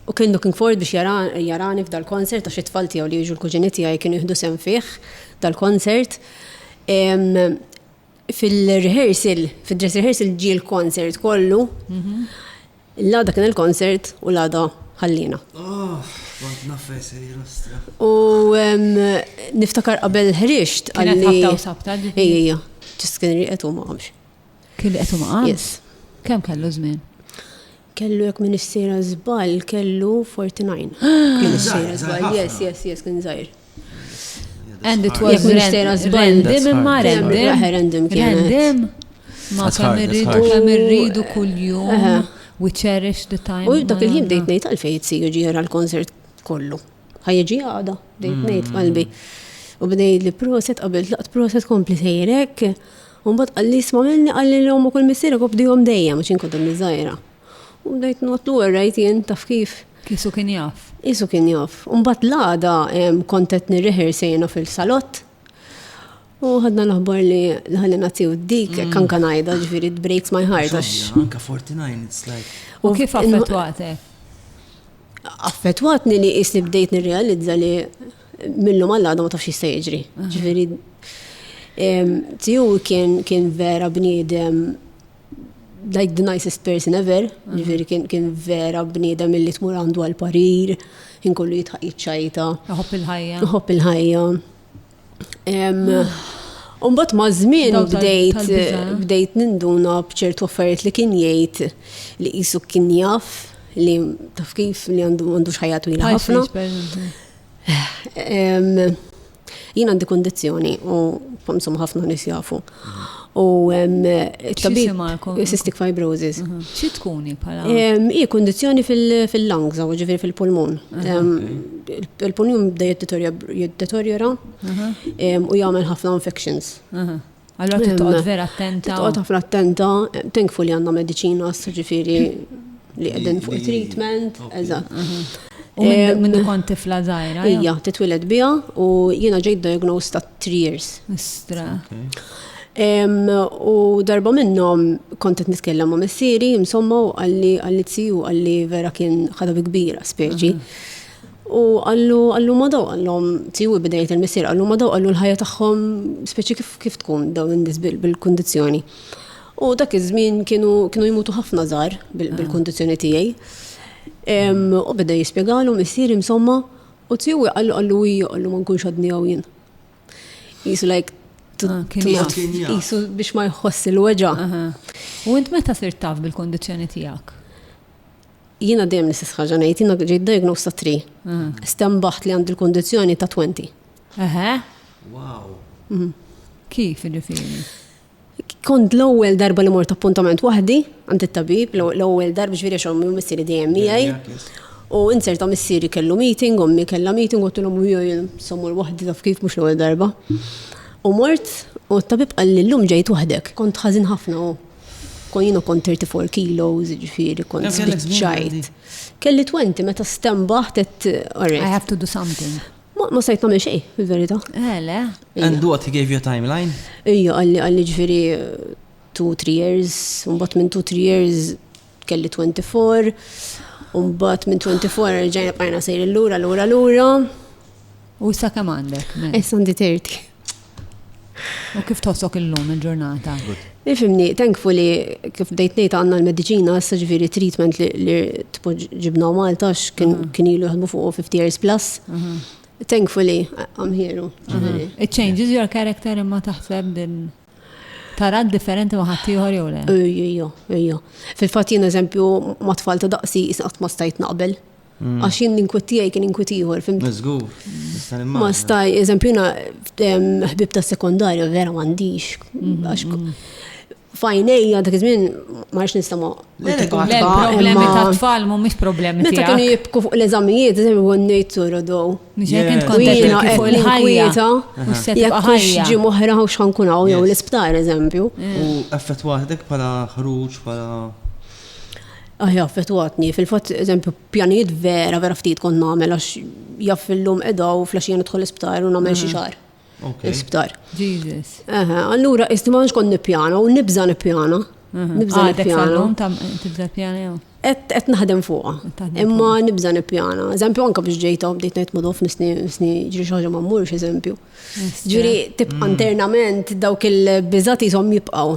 U kien looking forward biex jarani f'dal-konsert għax it-tfal tiegħu li jiġu l-kuġini tiegħi kienu jieħdu sem fih dal-konsert. Fil-rehearsal, fid-dress rehearsal ġie l-konsert kollu. Mhm. L-għada kien il-concert u l-għada ħallina. Oh, kont nafes il-lustra. U niftakar qabel ħriġt għalli. Kien ħabta u sabta. Ejja, ejja. Ġis kien riqet u maqamx. Kien riqet u maqamx? Yes. Kem kellu żmien? kellu jek minn issira zbal, kellu 49. Kien issira zbal, yes, yes, yes, kien zaħir. And it was random imma random. Random. Ma kemm irridu kemm irridu kuljum. We cherish the time. U dak il-ħin dejt ngħid għalfejn jitsiju ġiera l-konsert kollu. Ħajġi għada, dejt mm. ngħid qalbi. U bdej li proset qabel laqt proset kompli sejrek. U mbagħad qalli isma' minni qalli l-hom ukoll missierek u bdihom dejjem għax inkun dom iż-żgħira. U bdejt notlu għerrajt jien taf kif. Kisu kien jaf. Kisu kien jaf. Umbat l-għada kontet nirriħir sejna fil-salott. U ħadna l-aħbar li l-ħalli naziju dik, mm. kan kan għajda ġviri breaks my heart. Anka 49, it's like. U kif affetwate? Affetwatni li jisni bdejt nirrealizza li millu mal-għada ma tafx jista' jiġri. Ġviri, tiju kien vera bniedem like the nicest person ever, mhm. ġifiri kien, kien vera bniedem illi tmur għandu għal-parir, kien kollu jitħaq jitċajta. Uħob il-ħajja. Uħob il-ħajja. Umbat ma' zmin bdejt, bdejt ninduna bċertu affarijiet li kien jgħid li jisu kien jaf li taf kif li għandu xħajatu li ħafna. Jien għandi kondizzjoni u insomma ħafna nies jafu. U it-tabib cystic fibrosis. Mhm. Xi tkuni bħala? Hi kondizzjoni fil-lungs, u ġifieri fil-pulmun. Mhm. Il-pulmun bda jiddeterjora mhm. u jagħmel ħafna infections. Allora trid toqgħod vera attenta. Toqgħod ħafna attenta, thankful li għandna mediċina, ġifieri li qegħdin fuq treatment, eżatt. U minn kont tifla żgħira. Ija, titwiled biha u jiena ġejt diagnosed ta' 3 years. Istra. U darba minnhom kont qed nitkellem ma' missieri, insomma, għalli għalli tziju għalli vera kien ħadab kbira speċi. U qallu, qallu ma daw għallhom tiegħu bidejt il-missier, qallu ma daw għallu l-ħajja tagħhom speċi kif kif tkun daw in-nies bil-kundizzjoni. U dak iż-żmien kienu kienu jmutu ħafna żgħar bil-kundizzjoni tiegħi. U beda jispjegalu missier insomma u tiegħu qallu qallu hi qallu ma nkunx għadni hawn jien. Jisu like jisu biex ma jħoss il-weġa. U int meta sirt taf bil-kundizzjoni tiegħek? Jiena dejjem l-istess ħaġa ngħid, jiena ġejt diagnosed ta' 3. Stembaħt li għandi l-kondizzjoni ta' 20. Eħe. Wow. Mhm. Kif ġifieri? Kont l-ewwel darba li mort appuntament waħdi għand it-tabib, l-ewwel darba ġifieri xogħol minn missieri dejjem miegħi. U insert ta' missieri kellu meeting, ommi kellha meeting, u tilhom u jien sommur waħdi taf kif mhux l-ewwel darba. U mort u t-tabib qal li llum ġejt waħdek, kont ħażin ħafna u. Kon jina kont 34 kilos, ġifiri, kont spiċċajt. Kelli 20 meta stembaħ tet. I have to do something. Ma sajt namel xej, fil-verita. Ele. Eh, And what, he gave you a timeline? Ija, għalli għalli ġifiri 2-3 years, un bat minn 2-3 years kelli 24, un bat minn 24 ġajna bqajna sejri l-lura, l-lura, l-lura. U sa' kem għandek? Issa għandi 30. U kif tħossok illum il-ġurnata? Nifimni, thankfully, kif bdejt ngħid għandna l-mediċina, issa ġifieri treatment li ġibna Malta kien mhm. ilu jaħdmu fuq 50 years plus. Mhm. Thankfully, I'm here. Mhm. It changes your character imma taħseb din tara differenti ma' ħaddieħor jew le? Ejjo, ejjo. Fil-fatt jien eżempju ma' tfal ta' daqsi jisqat ma stajt naqbel. Għax jien l-inkwit tiegħi kien inkwit ieħor, fim. Mażgur, Ma staj, eżempju, na ħbib ta' sekondarja vera m'għandix. Mhm. Fajnejja dak iż-żmien ma rridx nistama. Problemi ta' tfal mhumiex problemi. Meta kienu jibku fuq l-eżamijiet, eżempju għonnejt sorodow. Ġekin tkun ġejna qed l-ħajja. Jekk ħajja. Ġi moħra u x'ħan kun hawn jew l-isptar eżempju. U effettwaħdek bħala ħruġ bħala Hi affettwatni, fil-fatt eżempju pjanijiet vera vera ftit kont nagħmel għax jaf illum qiegħda u flaxija nidħol l-isptar u nagħmel xi xahar. L-isptar. Jesus. Allura isti ma kont nippjana u nibża nippjana. Nibża nippjana. Tibża pjana jew? Qed naħdem fuqha. Imma nibża nippjana. Eżempju anke biex ġejta u bdejt ngħid madof nisni ġri xi ħaġa ma mmurx eżempju. Ġri tibqa' internament dawk il-biżati jsom jibqgħu.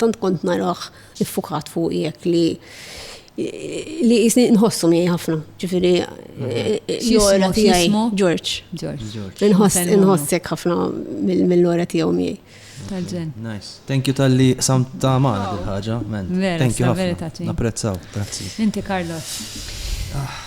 Tant kont narah iffukat fuq jekk li li jisni nħossu miegħi ħafna. Ġifieri l-ora tiegħi George. George. Inħossek ħafna mill-ora tiegħu miegħi. Tal-ġen. Nice. Thank you tal-li sam ta' maħna dil-ħagġa, man. Thank you ħafna. Napprezzaw, grazzi. Inti Carlos. Ah.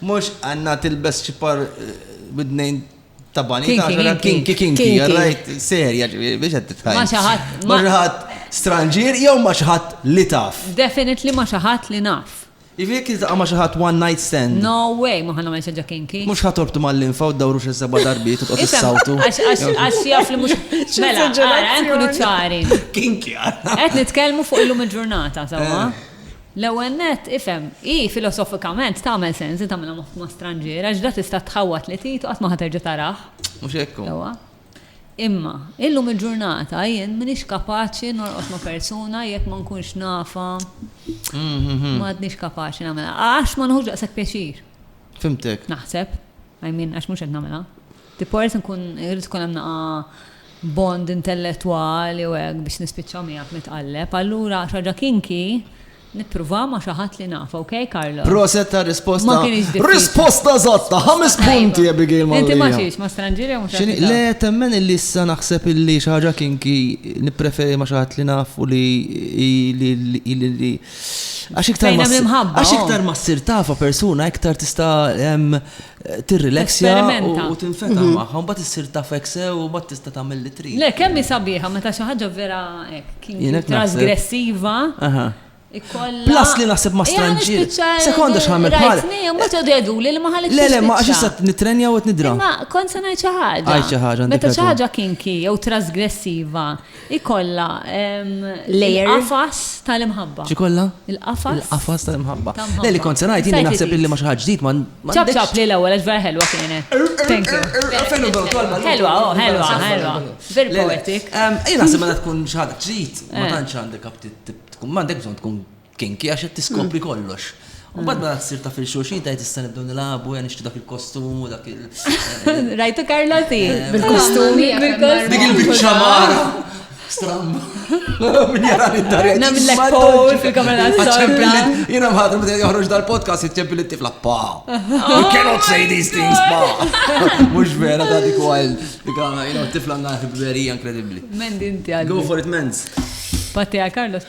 Mhux Anna tilbes xi par bidnejn ta' bani ta' xogħol kinki kinki, rajt serja biex qed titħajja. Ma xi ħadd. Ma xi ħadd stranġier jew ma xi ħadd li taf. Definitely ma xi ħadd li naf. Jiġifieri jekk tiltaqa' ma' xi ħadd one night stand. No way ma ħa nagħmel xi ħaġa kinki. Mhux ħa torbtu mal-linfa u ddawru xi seba' darbiet u tqgħod issawtu. Għax jaf li mhux. Mela, ara nkunu ċari. Kinki. Qed nitkellmu fuq illum il-ġurnata, sewwa. L-ewwel nett, ifhem, hi filosofikament tagħmel sens li tagħmilha moħkma stranġiera għax ġa tista' tħawwad li Titu qatt ma ħa terġa' tarah. Mhux hekk hu. Sewwa. Imma, illum il-ġurnata jien m'iniex kapaċi norqod ma' persuna jekk ma nkunx nafha, m'għadniex kapaċi nagħmilha. Għax ma nieħux daqshekk pjaċir. Fhimtek. Naħseb. I mean, għax mhux qed nagħmilha. Tipo irid nkun irid ikun hemm naqa' bond intellettwali u hekk biex nispiċċa miegħek nitqalleb. Allura xi ħaġa kinky nippruvaha ma' xi ħadd li naf, ok Carlo? Proset tar-risposta. Ma kinitx diffiċli. Risposta eżatta, ħames punti Abigail Mallia. Inti ma xiex, ma' stranġier jew mhux X'inhi? Le, temmen illi issa naħseb illi xi ħaġa kinky nippreferi ma' xi ħadd li naf u li li li li li għax iktar Fejn ma hemm ssir- l-imħabba, għax oh. iktar ma ssir tafha persuna iktar tista' em, tirrileksja u tinfetaħ magħha, u mbagħad issir tafek sew u mbagħad tista' tagħmel li trid. Le, kemm hi sabiħa meta xi ħaġa vera hekk kien trasgressiva. Plus li naħseb ma stranġir. Sekonda xħamil bħal. Ma ċodu jadu li ma ħalli. Le, le, ma għax issa nitrenja u t-nidra. Ma kont se ngħid xi ħaġa. Għaj xi ħaġa. Meta xi ħaġa kinki jew trasgressiva. Ikollha l-qafas tal-imħabba. X'ikollha? Il-qafas. Il-qafas tal-imħabba. Le li kont se ngħid jiena naħseb illi ma xi ħadd ġdid ma. Ċab ċab li l-ewwel għax vera ħelwa kienet. Thank you. Ħelwa, oh, ħelwa, ħelwa. Very poetic. Jiena naħseb meta tkun xi ħadd ġdid ma tantx għandek aptit tkun m'għandek bżonn tkun kinki għax qed tiskopri kollox. U bad ma tsir ta' fil-xulxin tajt issa nibdew nilagħbu ja nixtri dak il-kostum u dak il. Rajtu Karlotti? Eh, bil-kostum. Dik il-biċċa mara. Stram. Min jara id-dar. Namillek pol fil-kamera tal-sorda. Jina mħadru bdejt joħroġ dal-podcast jitċempil it-tifla pa. You cannot say these things pa. Mux vera ta' dik għal. Dik għal, tifla għanna ħibberija inkredibli. Mendi inti għal. Go for it, mens. Patti għal Carlos.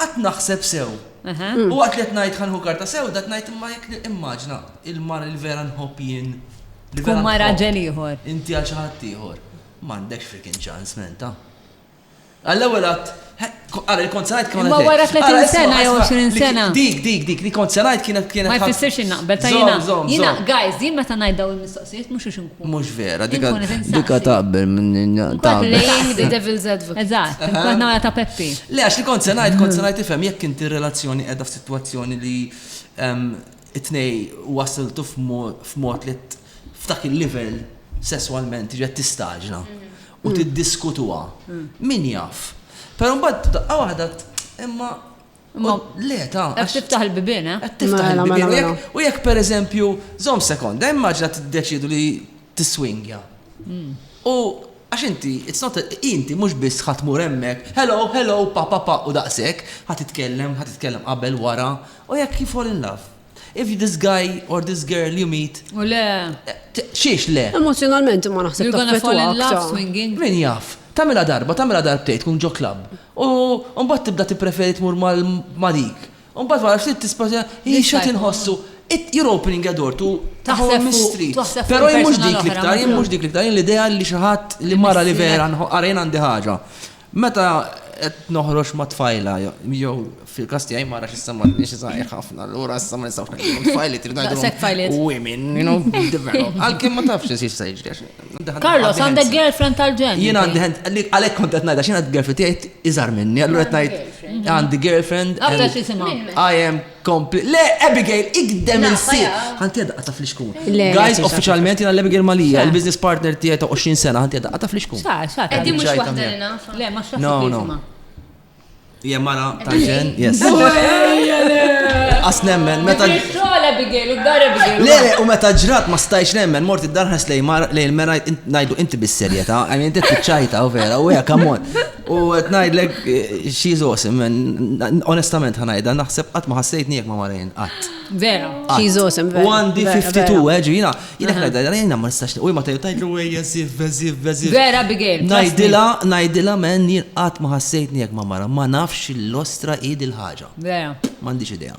Qgħadt naħseb sew. U waqt li qed ngħid ħa nieħu karta sewda qed ngħid imma jekk nimmaġna il-mara li vera nħobb jien, li vera nħobb inti għal xi ħadd ieħor, m'għandekx frickin ċans, man, ta'. Għall-ewwel għadd, ara li kont se ngħid kienet. Ma wara 30 sena jew 20 sena. Dik, dik, dik li kont se ngħid kienet kienet. Ma jfissirx innaqbel ta' jiena. Jiena, guys, jien meta ngħid dawn il-mistoqsijiet mhux Mhux vera, dika dika taqbel minn taqbel. Playing the devil's advocate. Eżatt, kont nara ta' Peppi. Le, għax li kont se ngħid, kont se ngħid tifhem jekk inti r-relazzjoni qiegħda f'sitwazzjoni li it-tnej wasiltu f'mod li f'dak il-livell sesswalment tiġi qed tistaġna u tiddiskutuha. Min jaf? Però mbagħad f'daqqa waħda imma Imma. Le, ta. Qed tiftaħ il-bibien, eh? Qed tiftaħ il-bibien. U jekk per eżempju, żomm sekonda, immaġna tiddeċiedu li tiswingja. Hmm. U għax inti, it's not, inti mhux biss ħadd mur hemmhekk, hello, hello, pa pa pa u daqshekk, ħadd titkellem, ħadd titkellem qabel wara, u jekk you fall in love. If this guy or this girl you meet. U le. Xiex le? Emozzjonalment imma naħseb taffetwa aktar. You're gonna fall in love swinging. Min jaf? Tagħmilha darba, tagħmilha darbtejn tkun ġo klabb. U mbagħad tibda tippreferi tmur ma' dik. U mbagħad wara ftit tisprova hi x'qed inħossu. You're opening a door to a whole mystery. Però jien mhux dik l-iktar, jien mhux dik l-iktar, jien l-idea li xi ħadd li mara li vera għarejn għandi ħaġa. Meta qed noħroġ ma' tfajla jew fil-każ tiegħi mara x'issa m'għandniex xi żgħir ħafna, allura issa ma nistgħux ngħidilhom tfajliet, trid ngħidilhom women, you know, develop. Għalkemm ma tafx xi se jiġri. Carlos, għandek girlfriend tal-ġen. Jien għandi għalhekk kont qed ngħidha x'inha girlfriend tiegħi iżgħar minni, allura qed ngħid għandi girlfriend. Għandha xi simha. I am Kompli. Le, Abigail, ikdem Nafa, il-sit. ja. Ħanti daqqa ta' flixkun. Le, le, Guys, fiex, uffiċjalment jina l-Abigail Malija, Xa. il-business partner tiegħi ta' 20 sena, ħanti daqqa ta' flixkun. Xa, xa, ta' Edi mhux Ġajta waħda mija. li nafa. Le, ma xraħ No, no. isma. Hija mara ta' ġen, yes. As nemmen, meta. Xogħol Abigail, u d-dar Abigail. Le, le, u meta ġrat ma stajx nemmen, mort id-darħas lej mar lej il-mera ngħidu inti bis-serjetà, għajn inti tiċċajta u vera, u hija kamon. U qed ngħidlek she's awesome and onestament ħanajda naħseb qatt ma ħassejtni jekk ma marajn qatt. Vera, she's awesome vera. U għandi 52 eġu jiena jiena ngħidha jiena ma nistax u ma tgħidlu ejja żif beżif beżif. Vera Abigail. Ngħidilha ngħidilha men jien qatt ma ħassejtni jekk ma mara ma nafx l-ostra hi dil-ħaġa. Vera. M'għandix idea.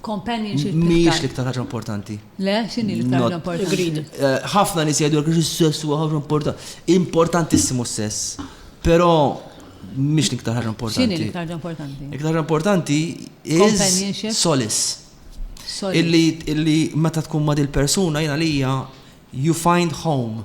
companionship. Mhijiex l-iktar ħaġa importanti. Le, x'inhi l-iktar ħaġa importanti? Eh, ħafna nies jgħidu li s-sess huwa ħaġa importanti. Importantissimu s-sess, però mhix l-iktar ħaġa importanti. X'inhi l-iktar ħaġa importanti? L-iktar ħaġa importanti is solis. Illi meta tkun ma' dil-persuna jiena lija you find home.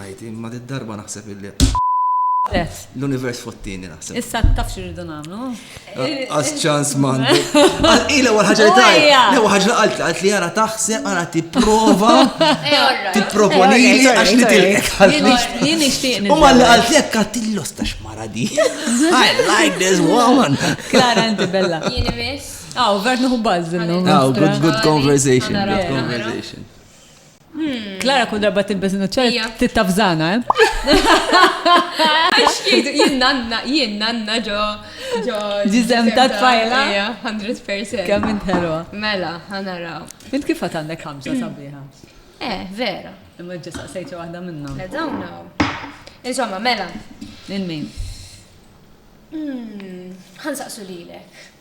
ħajti imma did-darba naħseb illi L-univers fottini naħseb. Issa taf xirridu nagħmlu. Għas ċans man. Ila wal ħaġa li taj. Lew ħaġa qalt qalt li ara taħseb ara tipprova. Tipproponi li għax li tilqek. Jien nixtieq. U mal li qalt jekk għatillu stax mara di. I like this woman. Klara inti bella. Jien imiss. Aw, vert nuħu bażżillu. Aw, good good conversation. Good conversation. Klara kull darba tilbes nuċċar tittafżana, eh? Għax jidu, jien nanna, jien nanna ġo. ġo. Ġizem ta' tfajla. 100%. Kemm int ħelwa. Mela, ħanaraw. Int kif għat għandek ħamsa sabiħa? Eh, vera. Imma ġa saqsejċa waħda minna. Le dawna. Insomma, mela. Il-min. Hmm, ħan saqsu lilek.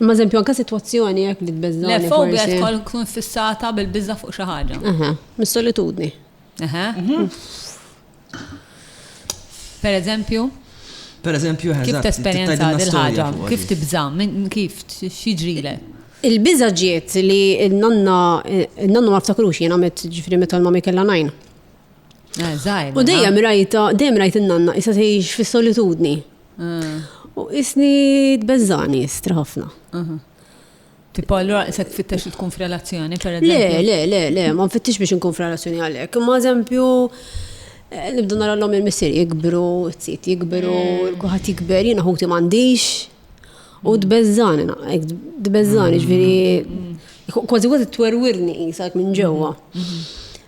Ma eżempju, anka situazzjoni jek li tbeżża. Le, fobja tkoll tkun fissata bil-bizza fuq xi ħaġa. Aha, mis-solitudni. Aha. Mhm. Per eżempju? Per eżempju, Kif tesperjenza dil-ħaġa? Kif tibża? Kif xieġrile? Il-biża ġiet li n-nonna, n-nonna ma ftakrux jena met ġifri meta l-mami kella najn. Eh, u dejjem rajta, dejjem rajt n-nanna, jisa tgħix fis-solitudni. U isni tbeżżani, istra ħafna. Tipo, allura se tfittex li tkun f'relazzjoni, per eżempju? Le, le, le, le, ma nfittix biex nkun f'relazzjoni għalhekk. Ma eżempju, eh, nibdu nara l-lom il-missir jikbru, t-sit jikbru, mm. kuħat jikber, jina ħuti mandiċ. U d-bezzani, d-bezzani, mm. ġviri, mm. kważi kważi t-twerwirni jisak minn ġewa. Mm-hmm.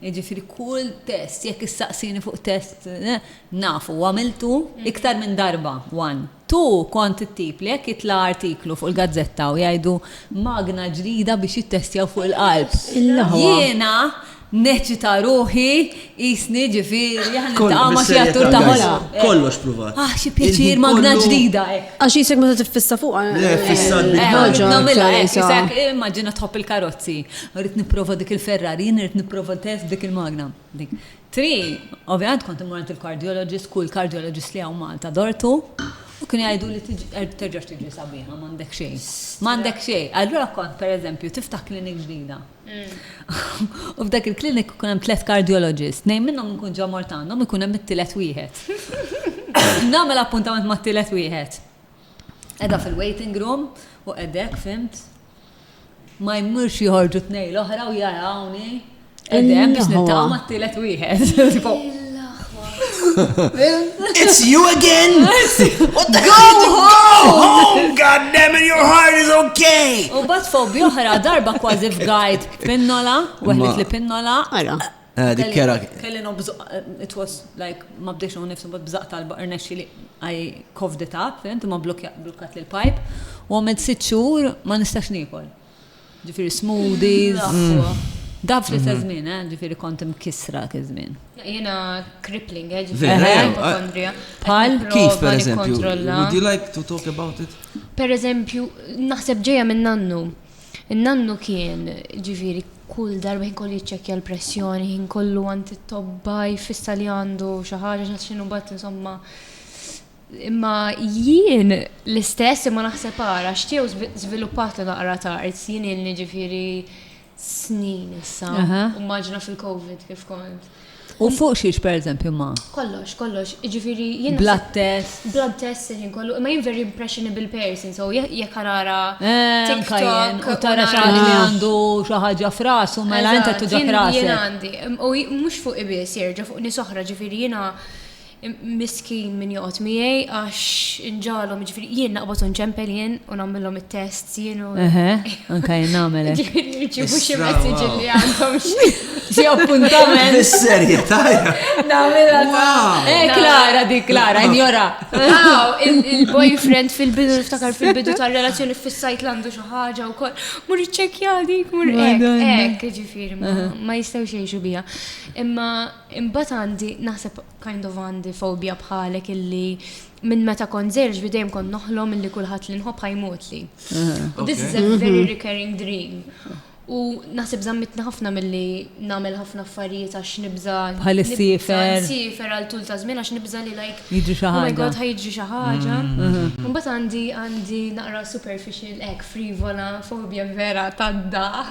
Jiġifieri kull test, jekk issaqsini fuq test, naf u għamiltu iktar minn darba, one. Two, kont it-tip li jekk jitla' artiklu fuq il-gazzetta u jgħidu magna ġdida biex jittestjaw fuq il-qalb, jiena neċċita ruħi qisni ġifieri aħna niltaqgħu ma' xi attur ta' ħolqa. Kollox pruvat. Ah, xi pjaċir magna ġdida, hekk. Għax qisek meta tiffissa fuqha. Le, ffissat bil-ħaġa. Nagħmilha hekk, qisek immaġina tħobb il-karozzi. Irrid nipprova dik il-Ferrari, jien irrid nipprova ntehef b'dik il-magna. Dik. Tri, ovvjament kont immur għand il-cardiologist, kull cardiologist li hawn Malta dortu, u kienu jgħiduli tiġi, terġax tiġri sabiħa, m'għandek xejn. M'għandek xejn. Allura kont, per eżempju, tiftaħ clinic ġdida. U f'dak il-clinic ikun hemm tliet cardiologists, tnejn minnhom inkun ġa mort għandhom, ikun hemm it-tielet wieħed. Nagħmel appuntament mat-tielet wieħed. Qiegħda fil-waiting room u qegħdek, fhimt? Ma jmurx joħorġu tnej l-oħra u jarawni. Edem biex nittama t-tielet wieħed. it's you again? What the Go home! God damn it, your heart is okay! U bat fobi oħra darba kważi f'gajt pinnola, weħlet li pinnola. Ara. Eh, dik kera. Kelli no bżaq, eh, it was like, ma bdex no nifsu, but bżaq talba irnexxi li I coughed it up, fint, ma blokkat li l-pipe, u għamilt sitt xhur ma nistax nikol. Ġifiri smoothies, mm. Da fl istess mhm. żmien, eh, ġifiri kont imkisra kizmin. Jena crippling, eh, ġifiri ipokondrija. Pal kif per eżempju? Would you like to talk about it? Per eżempju, naħseb ġeja minn nannu. In-nannu kien, ġifieri, kull darba ħin kollu jiċċekkja l-pressjoni, ħin kollu għand it-tobba jfissa li għandu xi ħaġa x'għad x'inhu mbagħad insomma. Imma jien l-istess imma naħseb ara x'tiew żviluppat li naqra tard, jien ilni ġifieri snin issa, immaġina fil-COVID kif kont. U fuq xiex per eżempju ma? Kollox, kollox, ġifiri jien. Blood test. Blood test il-ħin kollu, imma jien very impressionable person, so jekk għanara. Eh, TikTok. U tara xaħġa li għandu xaħġa fras, u mela jenta tuġa fras. Jien għandi, u mux fuq ibis jirġa fuq nisoħra ġifiri jina Miskin min joqgħod miegħi għax inġalhom, jiġifieri jien naqbad u nċempel jien u nagħmilhom it-tests jien u. Eħe, anke jien nagħmel hekk. Jiġifieri niġibu xi messaġġi li għandhom xi appuntament. Is-serjetà. Nagħmilha. Eh, eh Klara dik Klara, injora. Il-boyfriend fil-bidu niftakar fil-bidu tar-relazzjoni fis-sajt landu xi ħaġa wkoll. Mur iċċekkja dik, mur hekk, hekk, jiġifieri ma jistgħux jgħixu biha. Imma Imbagħad għandi, naħseb kind of għandi fobja bħalek illi minn meta kont żgħir ġifieri dejjem kont noħlom illi kulħadd li nħobb ħa jmutli. U this is a very recurring dream. U naħseb żammitni ħafna milli nagħmel ħafna affarijiet għax nibża' Bħal is-siefer. Siefer għal tul ta' żmien għax nibża' li like. Jiġri xi ħaġa. Oh my God ħa jiġri xi ħaġa. Imbagħad għandi għandi naqra superficial hekk frivola fobja vera tad-daħq.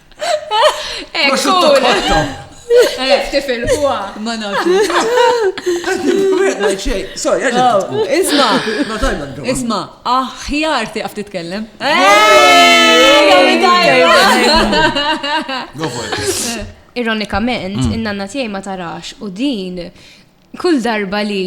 Prosciutto cotto. Eh, tifil huwa. Ma nafx. Sorry, oh, Isma. Isma, aħjar tiqaf titkellem. Ironikament, mm. in-nanna tiegħi ma tarax u din Kull darba li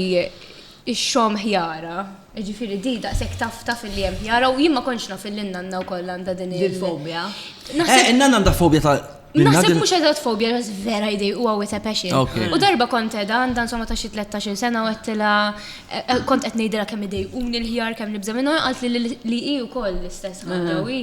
x-xogħom ħjara, jiġifieri di daqshekk tafta filli hemm ħjara u jien ma kontx naf illi n-nanna wkoll għandha din il- Fobja. Eh, in-nanna għandha fobja ta' Naħseb mhux eżatt fobja, ġas vera jdej u għawit a passion. U darba kont edha għandha insomma ta' xi tlettax-il sena u għedtilha eh, eh, kont qed ngħidilha kemm idejquni l-ħjar kemm nibża' minnhom, qalt li hi wkoll l-istess ħaġa u hi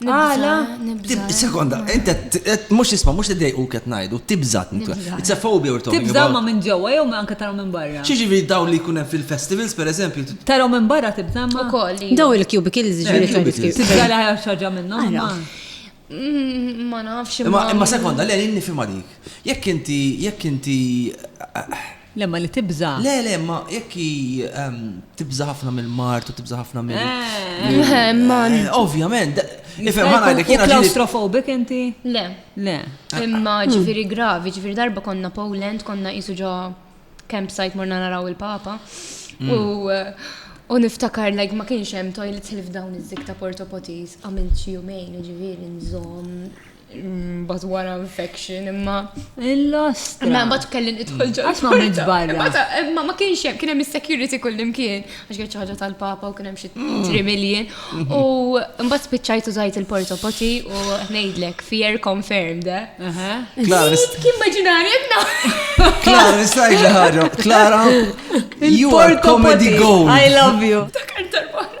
Għala? Sekonda, inta, mux isma, mux t-dej u ket najdu, tibżat, it's a phobia or talking. Tibżat ma minn ġewwa jew ma anka tarom minn barra. Xieġi vi daw li kunem fil-festivals, per eżempju. Tarom minn barra tibżat ma. Daw il-cubicles eh, ġviri fil-festivals. Tibżat li ħajja xaġa minnom. Mm, ma nafx. Ma sekonda, l-għalin nifima dik. Jekk inti, jekk inti, eh, Le, ma li tibża'. Le, le, ma jekk hi tibża' ħafna mill-mard u tibża' ħafna mill. Eh, ovvjament. Nifhem ħana li kien. Klaustrofobik inti? Le. Le. Imma ġifieri gravi, ġifieri darba konna Poland, konna qisu ġo campsite morna naraw il-Papa. Mm. U U niftakar like ma kienx hemm toilets li f'dawn iż-żik ta' Porto Potis għamilt xi jumejn ġifieri nżomm Mbagħad wara infection imma. Il-lost. Ma mbagħad kellin idħol ġol. Għax ma minn barra. Imma ma kienx hemm kien hemm is-security kullimkien għax kien ħaġa tal-papa u kien hemm xi 3 million. U mbagħad spiċċajt użajt il-porta poti u ngħidlek fear confirmed. Klara. Kien maġinarja kna. Klara, nistajt li ħaġa. Klara, you are comedy gold. I love you. Dakar tal-barra.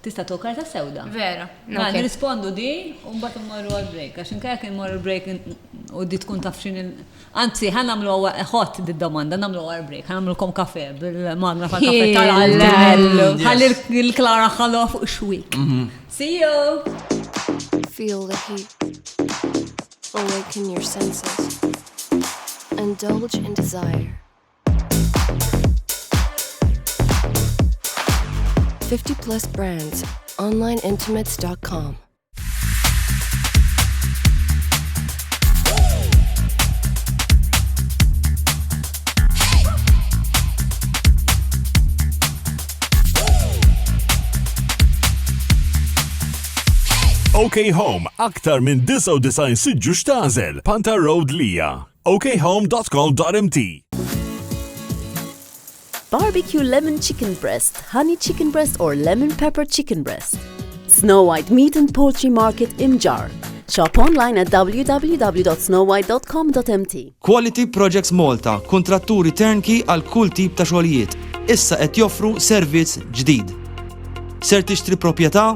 Tista' tkun karta sewda. Vera. Ma nirrispondu di u mbagħad immorru għal break għax inkella kien immorru break u di tkun taf x'in Anzi, ħan nagħmlu ħott d-domanda, nagħmlu għal break, ħan nagħmlu kom kafe bil-magna fa' kafe tal-għallu. Ħalli l-klara ħallu fuq xwik. Mhm. See you! Feel the heat. Awaken your senses. Indulge in desire. Fifty plus brands, onlineintimates.com. OK Home, aktar minn 99 siġġu xtazel, Panta Road Lija. okhome.co.mt Barbecue lemon chicken breast, honey chicken breast or lemon pepper chicken breast. Snow White Meat and Poultry Market Imjar. Shop online at www.snowwhite.com.mt. Quality Projects Malta, kuntratturi turnkey għal kull tip ta' xogħlijiet, issa qed joffru servizz ġdid. Ser tixtri proprjetà?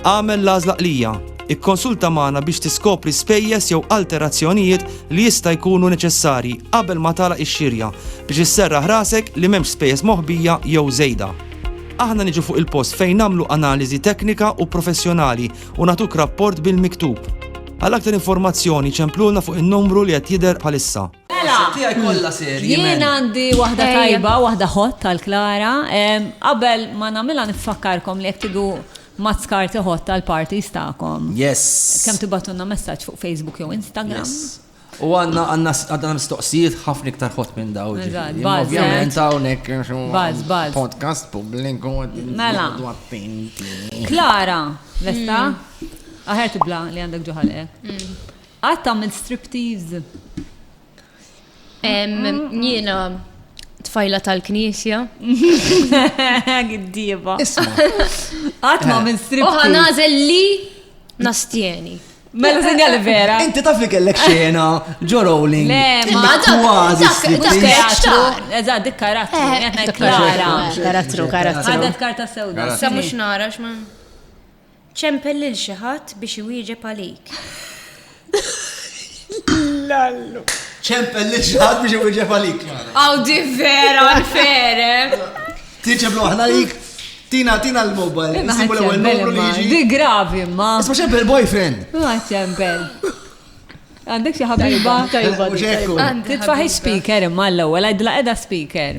Agħmel l-għażla qlija. Ikkonsulta magħna biex tiskopri spejjeż jew alterazzjonijiet li jista' jkunu neċessarji qabel ma tagħlaq ix-xirja biex isserraħ rasek li m'hemmx spejjeż moħbija jew żejda. Aħna niġu fuq il-post fejn nagħmlu analiżi teknika u professjonali u nagħtuk rapport bil-miktub. Għal aktar informazzjoni ċemplulna fuq in-numru li qed jidher bħalissa. Mela, jien għandi waħda tajba, waħda hot tal-Klara. Qabel ma namila nifakkarkom li jek tidu mazzkar tiħot tal-parties ta'kom. Yes. Kem tibatunna messaċ fuq Facebook jew Instagram. Yes. U għanna għanna għanna mistoqsijiet ħafna iktar ħot minn daw. Ovvijament għawnek podcast publiku. Mela. Klara, lesta? Mm. Aħer tibla li għandek ġuħal, eh? Mm. Qatt għamilt striptease? Jiena tfajla tal-knisja. Giddieba. Qatt ma għamilt striptease. Oħa nażel li nastjeni. Mela sinjali vera. Inti taf li kellek xena ġo rolling. Le, ma kważi. Karattru. Eżad, dik karattru. Eh, karattru, karattru. Għadet karta sewda. Sa mux nara xman. Ċempel lil xi ħadd biex iwieġeb għalik. Lallu. Ċempel lil xi ħadd biex iwieġeb għalik. Aw di vera unfair. Eh? Tiġeb loħna lik. Tina, tina l-mobile. Nsibu l-ewwel numru li jiġi. Di gravi ma. Isma' ċempel boyfriend. Ma ċempel. Għandek xi ħabiba tajba. Titfaħi speaker imma l-ewwel għidla qiegħda speaker.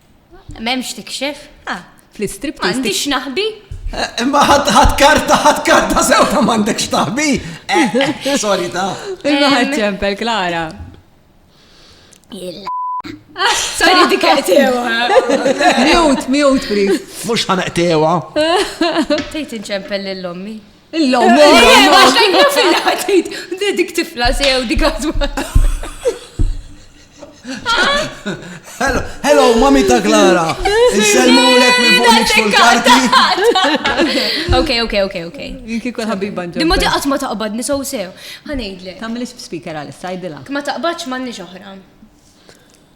M'hemmx tikxef? Ah. Fl-istrip m'għandix naħbi? Eh, imma ħadd karta, ħadd karta sewta m'għandekx taħbi. Eh, eh, Solita. Imma ħadd ċempel Klara. Sorry dik qtewa. Mute, mute please. Mhux ħanaqtewa. Tejt inċempel lill-ommi. Illum, illum, għax għajna fil-ħatit, dik tifla sew, dik għazwat. Hello, mami ta' Klara. Nselmu lek minn fuq nixfu l-karti. Ok, ok, ok, ok. Jinki kol ħabiba ġo. Dimma diqat ma taqbad nisaw sew. Ħanejdle. Tamilix speaker għal sajdila. Ma taqbadx ma nix oħra.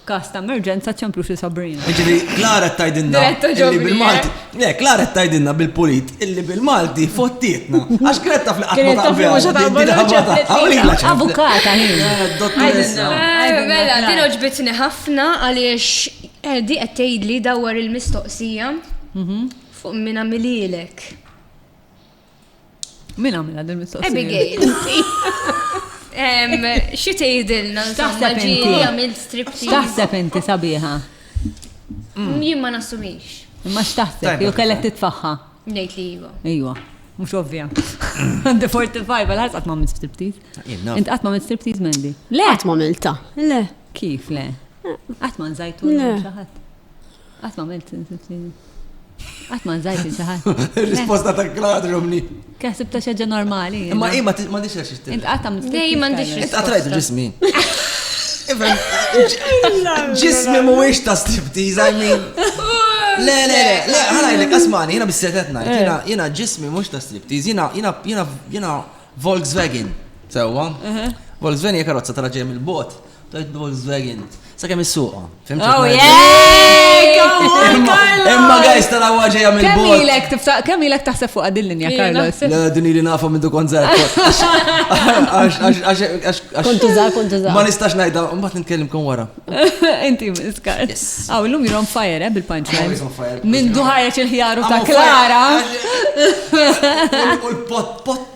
F'każ ta' emerġenza ċċemplux li Sabrina. Jiġifieri Klara qed tgħidilna li bil-Malti. Le, Klara qed tgħidilna bil-pulit illi bil-Malti fottietna. Għax kienet taf li qatt ma taqbel. Avukata hi. Dottoressa. Mela, din oġbitni ħafna għaliex Edi qed tgħidli dawwar il-mistoqsija fuq min għamililek. Min għamilha din mistoqsija? Abigail. Xi tgħidilna insomma ġi li għamil striptease. Taħseb inti sabiħa? Mm, jien ma nassumix. Imma x'taħseb jew kellek titfaħħa? Ngħid li iva. Iva. Mux ovvja. Għandi 45, għal ħasqat ma' minn striptease. Int għat ma' minn striptease mendi. Le, għat ma' milta. Le. Kif le? Għat ma' nżajtu. Le. Qatt ma għamilt insibtini. Qatt ma nżajt il ħadd. Risposta ta' Claude Romney. Kaħsib ta' xaġa normali. Ma hi ma m'għandix għax ixtieq. Int qatt għamilt. Dej m'għandix. Int qatt rajt ġismi. Ġismi mhuwiex ta' striptease, I mean. Le, le, le, le, ħalajlek, asmani, jina bis-setet najt, jina, eh. jina ġismi mux ta' striptease, jina, jina, jina, jina Volkswagen, sewa. Uh-huh. Volkswagen hija karozza tal ġej mill-bot. Tajt Volkswagen. Sa kemm is-suqa. Oh yeah! Imma guys tara waġeja minn Kemm ilek tibsa kemm ilek taħseb fuq din linja Carlos. La din li nafa minn dukon żgħar. Kontu żgħar, kontu żgħar. Ma nistax ngħidha, mbagħad nitkellimkom wara. Inti miskar. Aw illum you're on fire eh, bil-punchline. Minn duħareġ il-ħjaru ta' Klara. U l-pot pot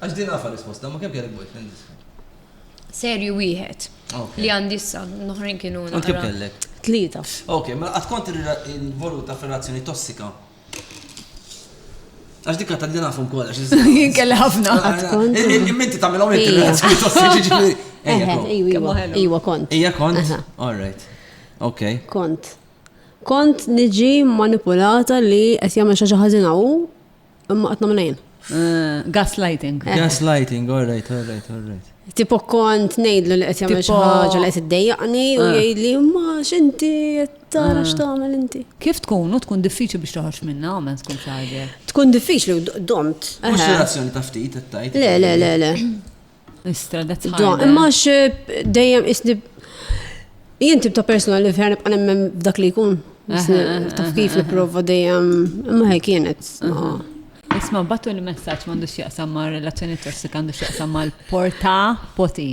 Għax din għafa risposta, ma kemm kellek boyfriend issa? Serju wieħed. Li għandi issa, noħrin kienu. Għand kemm kellek? Tlieta. Ok, ma mela għad kont il-voluta f'relazzjoni tossika. Għax dikka ta' dina fum kolla. Jien kelli ħafna. Minti ta' mela minti relazzjoni tossika ġiġi. Iwa kont. Ija kont? All right. Ok. Kont. Kont niġi manipulata li qed jagħmel xi ħażina u Imma qed nagħmel jien. Eh, gaslighting. Eh. Gaslighting, all right, all right, all right. Tipo kont nejdlu li qed jagħmel xi ħaġa li qed iddejjaqni u eh. jgħidli ma x'inti qed tara x'tagħmel inti. Kif tkun u tkun diffiċli biex toħroġ minna u ma tkun xi Tkun diffiċli u domt. Mhux relazzjoni ta' ftit qed tajt. Le, le, le, le. Imma eh, dejjem isni jien tibta persona li vera nibqa' nemmen dak li jkun. Taf kif li prova dejjem imma hekk kienet. Isma' batu l-messaġġ m'għandux jaqsam ma' relazzjoni tossika għandux jaqsam mal porta poti.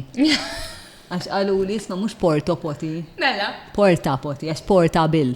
Għax qalu li jisma' mhux porto poti. Mela. Porta poti, għax porta bil.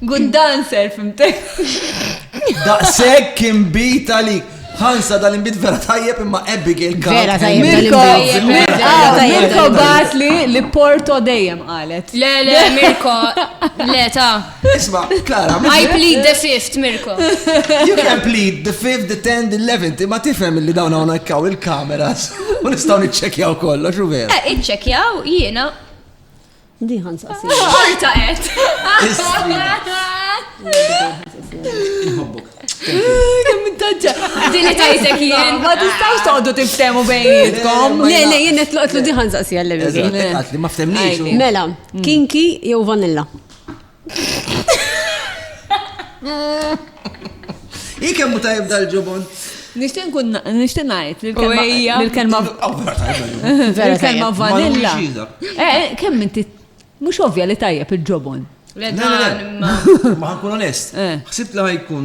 Good dancer, fimtek. Daqseg kien bit għalik. Hansa dal imbit vera tajjeb imma Abigail kan. Vera tajjeb Mirko, Mirko bat li li Porto dejjem qalet. Le, le, Mirko, le ta. Isma, Klara. I plead the fifth, Mirko. You can plead the fifth, the tenth, the eleventh, imma tifhem li dawn hawn ikkaw il-kameras. U nistgħu niċċekjaw kollox u vera. Eh, iċċekjaw jiena Di ħan saqsi. Orta qed. Nħobbok. Kemm intaġġa. Din qed għajtek jien. Ma tistgħux toqgħodu tiftehmu bejnietkom. Le, le, jien qed loqgħod di ħan saqsi għal-levi. Eżatt, li ma ftemniex. Mela, kinki jew vanilla? Hi kemm hu tajjeb dal-ġubon. Nixtieq nkun nixtieq ngħid li l-kelma l-kelma vanilla. Eh, kemm inti mhux ovvja li tajjeb il-ġobon. Le, ma nkun onest. Ħsibt li ħajkun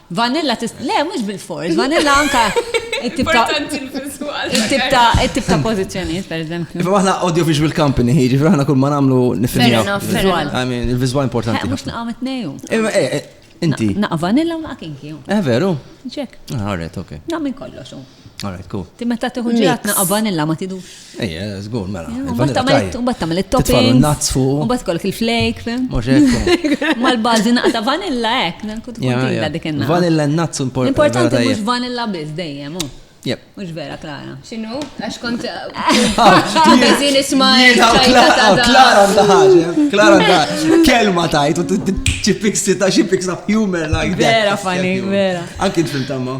Vanilla tista' le mhux bil-fors, vanilla anka it-tip ta' it-tip ta' it-tip ta' pożizzjonijiet pereżempju. Imma aħna audio visual company ħiġi fl aħna kull ma nagħmlu nifinjaw. I mean, il-viżwal importanti. Mhux naqgħu tnejju. Imma eh, eh, inti. Naqa' vanilla u naqa' kinki. Eh veru? Ġek. Ah, alright, okay. Naqgħu minn kollox. Alright, cool. Ti meta tiħu ġiratna qabanilla ma tidu. Ejja, zgur, mela. Mbatt tamil il-topping. Nuts fuq. Mbatt kolk il-flake, fem? Mal-bazi naqta vanilla ek, kut kontilla dik enna. Vanilla nuts importanti. Importanti mux vanilla biz dejjem, u. Jep. Mux vera, Klara. Xinu? Għax kont. Għazin isma. Klara ndaħġa. Klara ndaħġa. Kelma tajt, u t-ċipik sita, ċipik sa' humor like that. Vera, funny, vera. Anki t-fil tamma.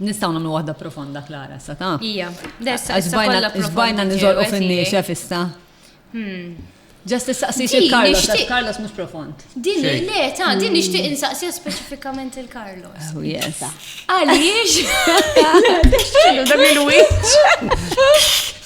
Nistgħu nagħmlu waħda profonda Klara issa ta'? Ija, dessa issa kollha profonda. Żbajna niżolqu fin-niexef issa. Ġast issaqsix il-Carlos, għax Carlos mhux profond. Din le ta' din nixtieq insaqsija speċifikament il-Carlos. Oh yes. Għaliex? Dak il-wiċċ.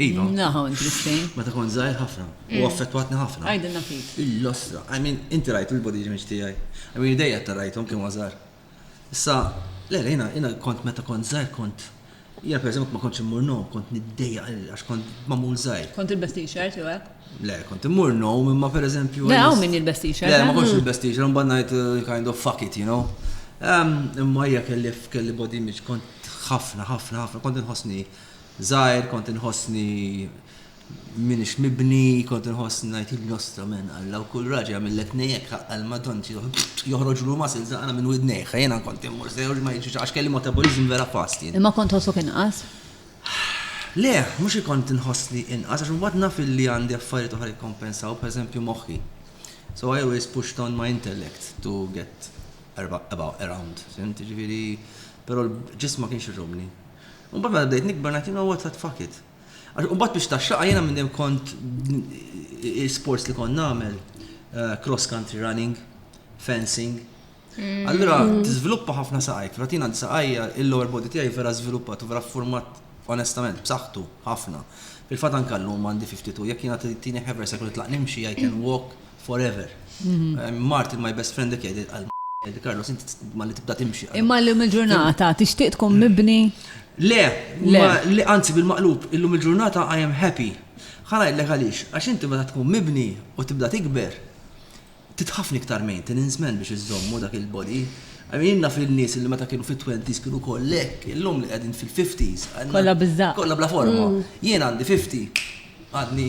Iva. Naħu, interesting. Meta kont zaħir ħafna. U mm. affettwatni ħafna. Għajdinna fik. Il-lostra. I mean, inti rajtu l-body image tijaj. I mean, dejja ta' rajtom kien għazar. Issa, le, jina, jina kont meta kont zaħir kont. Jina, per eżempju, ma kontx immur nom, kont niddeja għax kont mamul zaħir. Kont il-best t-shirt, jew hekk? Le, kont immur nom, imma per eżempju. Le, għaw minn il-best t-shirt. Le, ma eh? kontx il-best t-shirt, un bannajt uh, kind of fuck it, you know. Imma jgħak kelli kelli body image kont ħafna, ħafna, ħafna, kont nħosni żgħir kont inħossni m'iniex mibni, kont inħossni ngħid il-nostra men Alla u kull raġel jagħmillek nejjek ħaqqa l-Madann joħroġlu muscles aqra minn widnejh. Jiena kont immur sew li ma jiġrix għax kelli metabolism vera fast jien. Imma kont tħossok inqas? Le, mhux li kont inħossni inqas għax imbagħad naf illi għandi affarijiet oħra jikkompensaw, pereżempju moħħi. So I always pushed on my intellect to get about around, fimt? Jiġifieri, però ġism ma kienx iżommni. Imbagħad meta bdejt nikber ngħid you know what what fuck it. Għax imbagħad biex taxxaqha jiena minn dejjem kont sports li kont nagħmel eh, cross country running, fencing. Mm. Allura mm. tiżviluppa ħafna saqajk, fratina saqajja il-lower body tiegħi vera żviluppat u vera format onestament b'saħħtu ħafna. Fil-fatt anke llum għandi 52 jekk jiena tini ħever se kont tlaq nimxi I can walk Forever. Mart in my best friend decade għal Di Carlos, inti ma li tibda timxi. Imma l-lum il-ġurnata, tixtieq tkun mibni? Le, le, anzi bil-maqlub, illum il-ġurnata I am happy. Ħana jillek għalix, għax inti meta tkun mibni u tibda tikber, titħafni iktar maintenance man biex iżommu dak il-body. Għamil jenna fil-nis li meta kienu fit-20s kienu kollek, illum li għedin fil-50s. Kolla bizza. Kolla bla forma. Mm. Jien għandi 50, għadni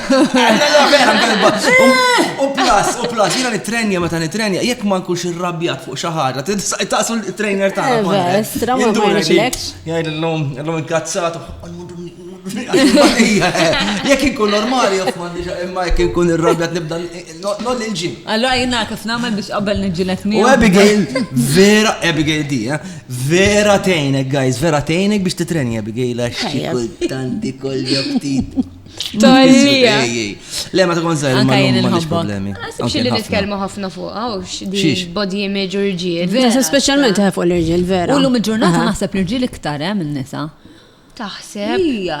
U plus, u plus, jina nitrenja meta nitrenja, jekk ma nkunx irrabjat fuq xaħġa, taqsu l-trainer ta' Everest, ramu Jgħid l-lum, l-lum inkazzat, Jekk inkun normali, imma jekk inkun irrabjat nibda noll il-ġim. Allora jina kif namel biex qabel nġilet mi. U Abigail, vera, Abigail di, eh? vera tejnek, guys, vera tejnek biex titrenja Abigail għax xikultanti koll joktit. Tolija. Le, ma tkun zaħir, ma tkun problemi. Għasib xilli nitkelmu ħafna fuqa, u xdi body image u rġiel. Vera, specialment eh, fuq l-rġiel, vera. U l-lum il-ġurnata naħseb l-rġiel iktar, eh, minn nisa. Taħseb. Ija,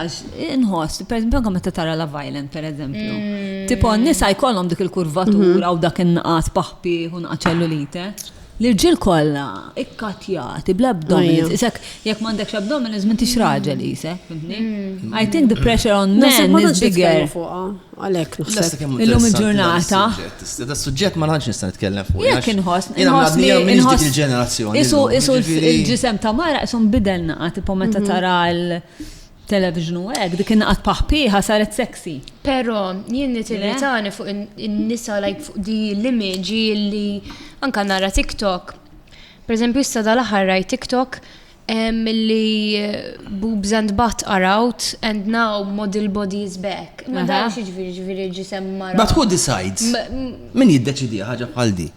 nħoss, per eżempju, għam ta' tara la violent, per eżempju. Mm. Tipo, nisa jkollhom dik il-kurvatura mhm. u dak in-naqas paħpi u naqaċellu lite. L-irġiel kollha ikkattjati bl-abdominals. Isek, jekk m'għandekx abdominals m'intix raġel isek, fimtni? I think the pressure on men is bigger. Għalhekk naħseb. Illum il-ġurnata. Da suġġett ma nħanx nista' nitkellem fuq. Jekk inħoss, inħoss li inħoss il-ġenerazzjoni. Isu isu il-ġisem ta' mara isu nbidel naqa' tipo meta tara l- Television u hekk, dik inqat paħpiħa saret sexy. Pero, jien nitilitani fuq in-nisa like fuq di l-image li anka nara TikTok. Per eżempju, issa dal-aħħar rajt TikTok milli eh, boobs and butt are out and now model body is back. Ma dan xieġviri ġviri ġisem mara. But who decides? Min jiddeċidi ħaġa bħal di?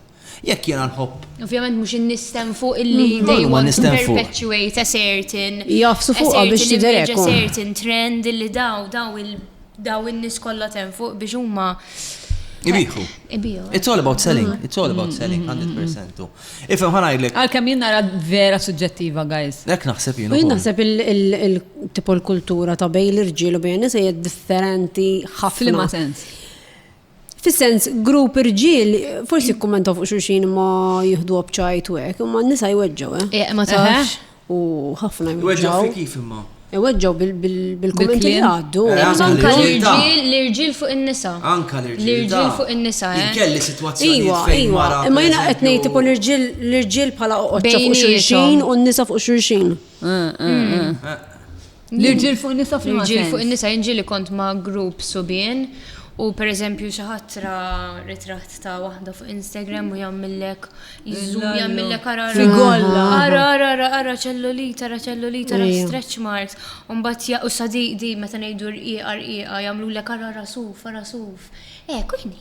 Jekk jiena nħobb. Ovvjament mhux in-nistem fuq illi they want to perpetuate a certain. Jgħafsu fuqha biex tidher hekk. A certain trend illi daw daw il daw in-nies kollha temm fuq biex huma. Ibiħu. Ibiħu. It's all about selling. Mm. It's all about mm. selling, 100%. Mm. Ifem ħanajlek. Għal-kem jien nara vera suġġettiva, guys. Ek naħseb jien. Jien naħseb il-tipo l-kultura ta' bej l-irġiel u bej nisa differenti ħafna. Flima sens. Fis-sens, grupp irġiel forsi jikkummentaw fuq xulxin imma jieħdu bċajt u hekk, imma n-nisa jweġġgħu, eh? Eh, ma tafx. U ħafna jweġġgħu. Jweġġgħu kif imma? Iweġġaw bil-kommenti li għaddu. Eh, anka l-irġil, l-irġil fuq il-nisa. Anka l-irġil. L-irġil fuq il-nisa. Eh. Kelli situazzjoni. Iwa, iwa. Imma jina għetni tipo l-irġil pala oqqa fuq xurxin u n-nisa fuq xurxin. Eh, mm. L-irġiel fuq in-nisa fl L-irġiel fuq in-nisa jinġi li kont ma' grupp subien u per eżempju xi ħatra ritratt ta' waħda fuq Instagram u jagħmillek iżżum jagħmillek ara ara ara ara ċellulita ara ċellulita ara stretch marks u mbagħad u sa di meta ngħidu rqiqa rqiqa jagħmlulek ara ara suf ara suf. Hekk u jien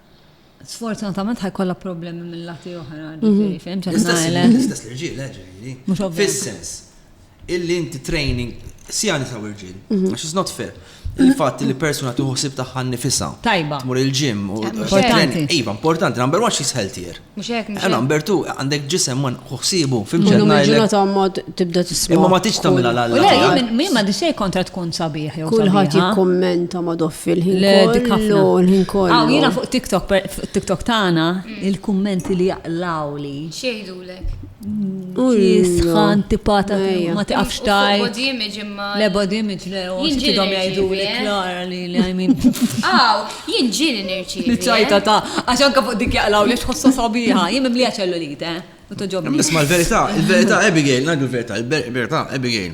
Sfortunatament ħajkolla problemi mill-lati oħra, mhm. ġifiri, fim, ċetnajle. L-istess l-irġil, eh, ġifiri. Mux ovvju. Fil-sens, illi inti training, si għani sa' irġil, mhm. għax it's not fair. Il-fat li persona tuħosib taħħan nifisa. Tajba. Mur il-ġim. Importanti. Iva, importanti. Number one, she's healthier. Mhux hekk, mhux hekk. Għana, Umbertu, għandek ġisem man hu ħsiebu, fimx qed ngħidlek. Illum il-ġurnata ma tibda tisma'. Imma ma tridx tagħmilha l Le, għalla. jien min ma dixej kontra tkun sabiħ jew Kulħadd sabiħa. jikkummenta ma doffi l-ħin Le, dik ħafna. kollu, l-ħin kollu. Aw, jiena fuq TikTok, per- fuq TikTok tagħna, il-kummenti li jaqlawli. Xieħdulek? Kisħa antipata ma tiqafx tajt. Body image imma. Le body image le, u xitidom jgħidu li klara li li għajmin. Aw, jien ġili nirċi. Li ċajta ta' għax anka fuq dik jaqlaw li xħossa sabiħa, jien mimlija ċellulite. Nisma l-verita, il-verita Abigail, najdu l-verita, il-verita Abigail.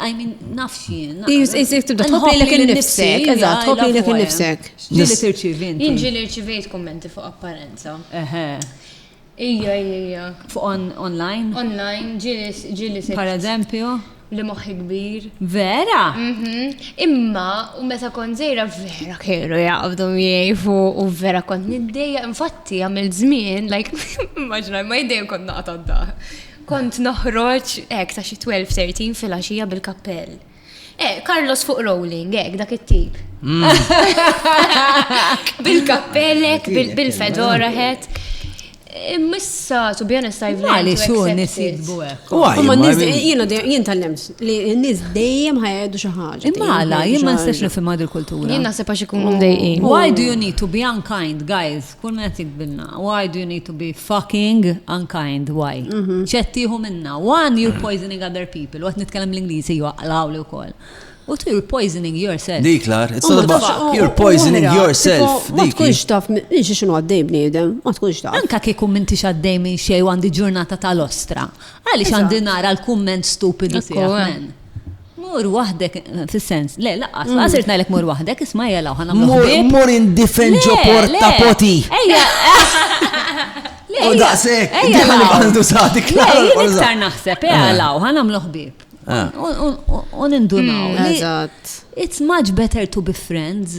I mean, nafx jien. Jizzik tibda tħobli l-ek il-nifsek, eżat, tħobli l-ek il-nifsek. Ġili tirċivin. Ġili rċivejt kommenti fuq apparenza. Eħe. Ija, ija. Fuq online? Online, ġili se. Per eżempju? Li moħi kbir. Vera? Mhm. Imma, u meta kon zejra, vera kienu jgħabdu miej fuq, u vera kont niddeja, infatti għamil zmin, like, immaġna, ma jiddejn kont naqta d-daħ. Kont noħroġ hekk ta' xi 12, 13 filgħaxija bil-kappell. Eh, Carlos fuq rolling, ek, dak it-tip. Mm. Bil-kappellek, bil-fedora het. Missa, to be honest, I've learned to accept nisibbu hekk. Ma nis jiena jien tal-lems li nis dejjem ħajdu xi ħaġa. Imma jien ma nistax nifhim għad il-kultura. Jien naħseb għax ikunu mdejqin. Why do you need to be unkind, guys? Kull min qed jikbilna. Why do you need to be fucking unkind? Why? Mhm. X'qed tieħu minna? One, you're poisoning other people. U qed nitkellem l-Ingliżi jwaqlawli wkoll. U tu you're poisoning yourself. Dik lar, it's all about you're poisoning yourself. Ma tkunx taf, nix xinu għaddej bniedem, ma tkunx taf. Anka kieku minti xaddej minn xej għandi ġurnata tal-ostra. Għalix għandi nara l-kumment stupidu tiegħek. Mur waħdek, fis-sens, le, laqqas, mm. laqqas irt ngħidlek mur waħdek, isma' jela u ħana mur. Mur indifen ġo porta poti. Ejja. U daqsek, diħan għandu sati klar. Iktar naħseb, ejja, eh. law, ħana mluħ bib. Eh. U nindunaw. Mm, eżatt. It's much better to be friends.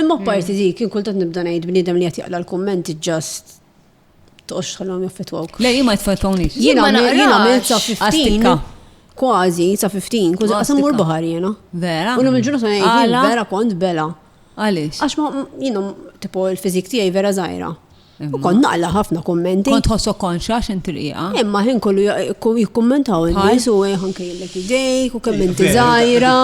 Imma parti dik, jien kultant nibda ngħid bniedem li qed jaqla' l-kummenti just toqgħodx tħallhom jaffettwawk. Le, jien ma jitfettwawnix. Jien ma naqrax. sa 15 kważi sa 15, kważi qasam mur baħar jiena. Vera? U l-lum il-ġurnata ngħid vera kont bela. Għaliex? Għax ma jiena tipo l-fiżik tiegħi vera żgħira. U kon naqla ħafna kommenti. Kont ħossok konxa xin triqa. Imma ħin kollu jikkommentaw il-nis u ħanka jillek idejk u kemm inti zaħira.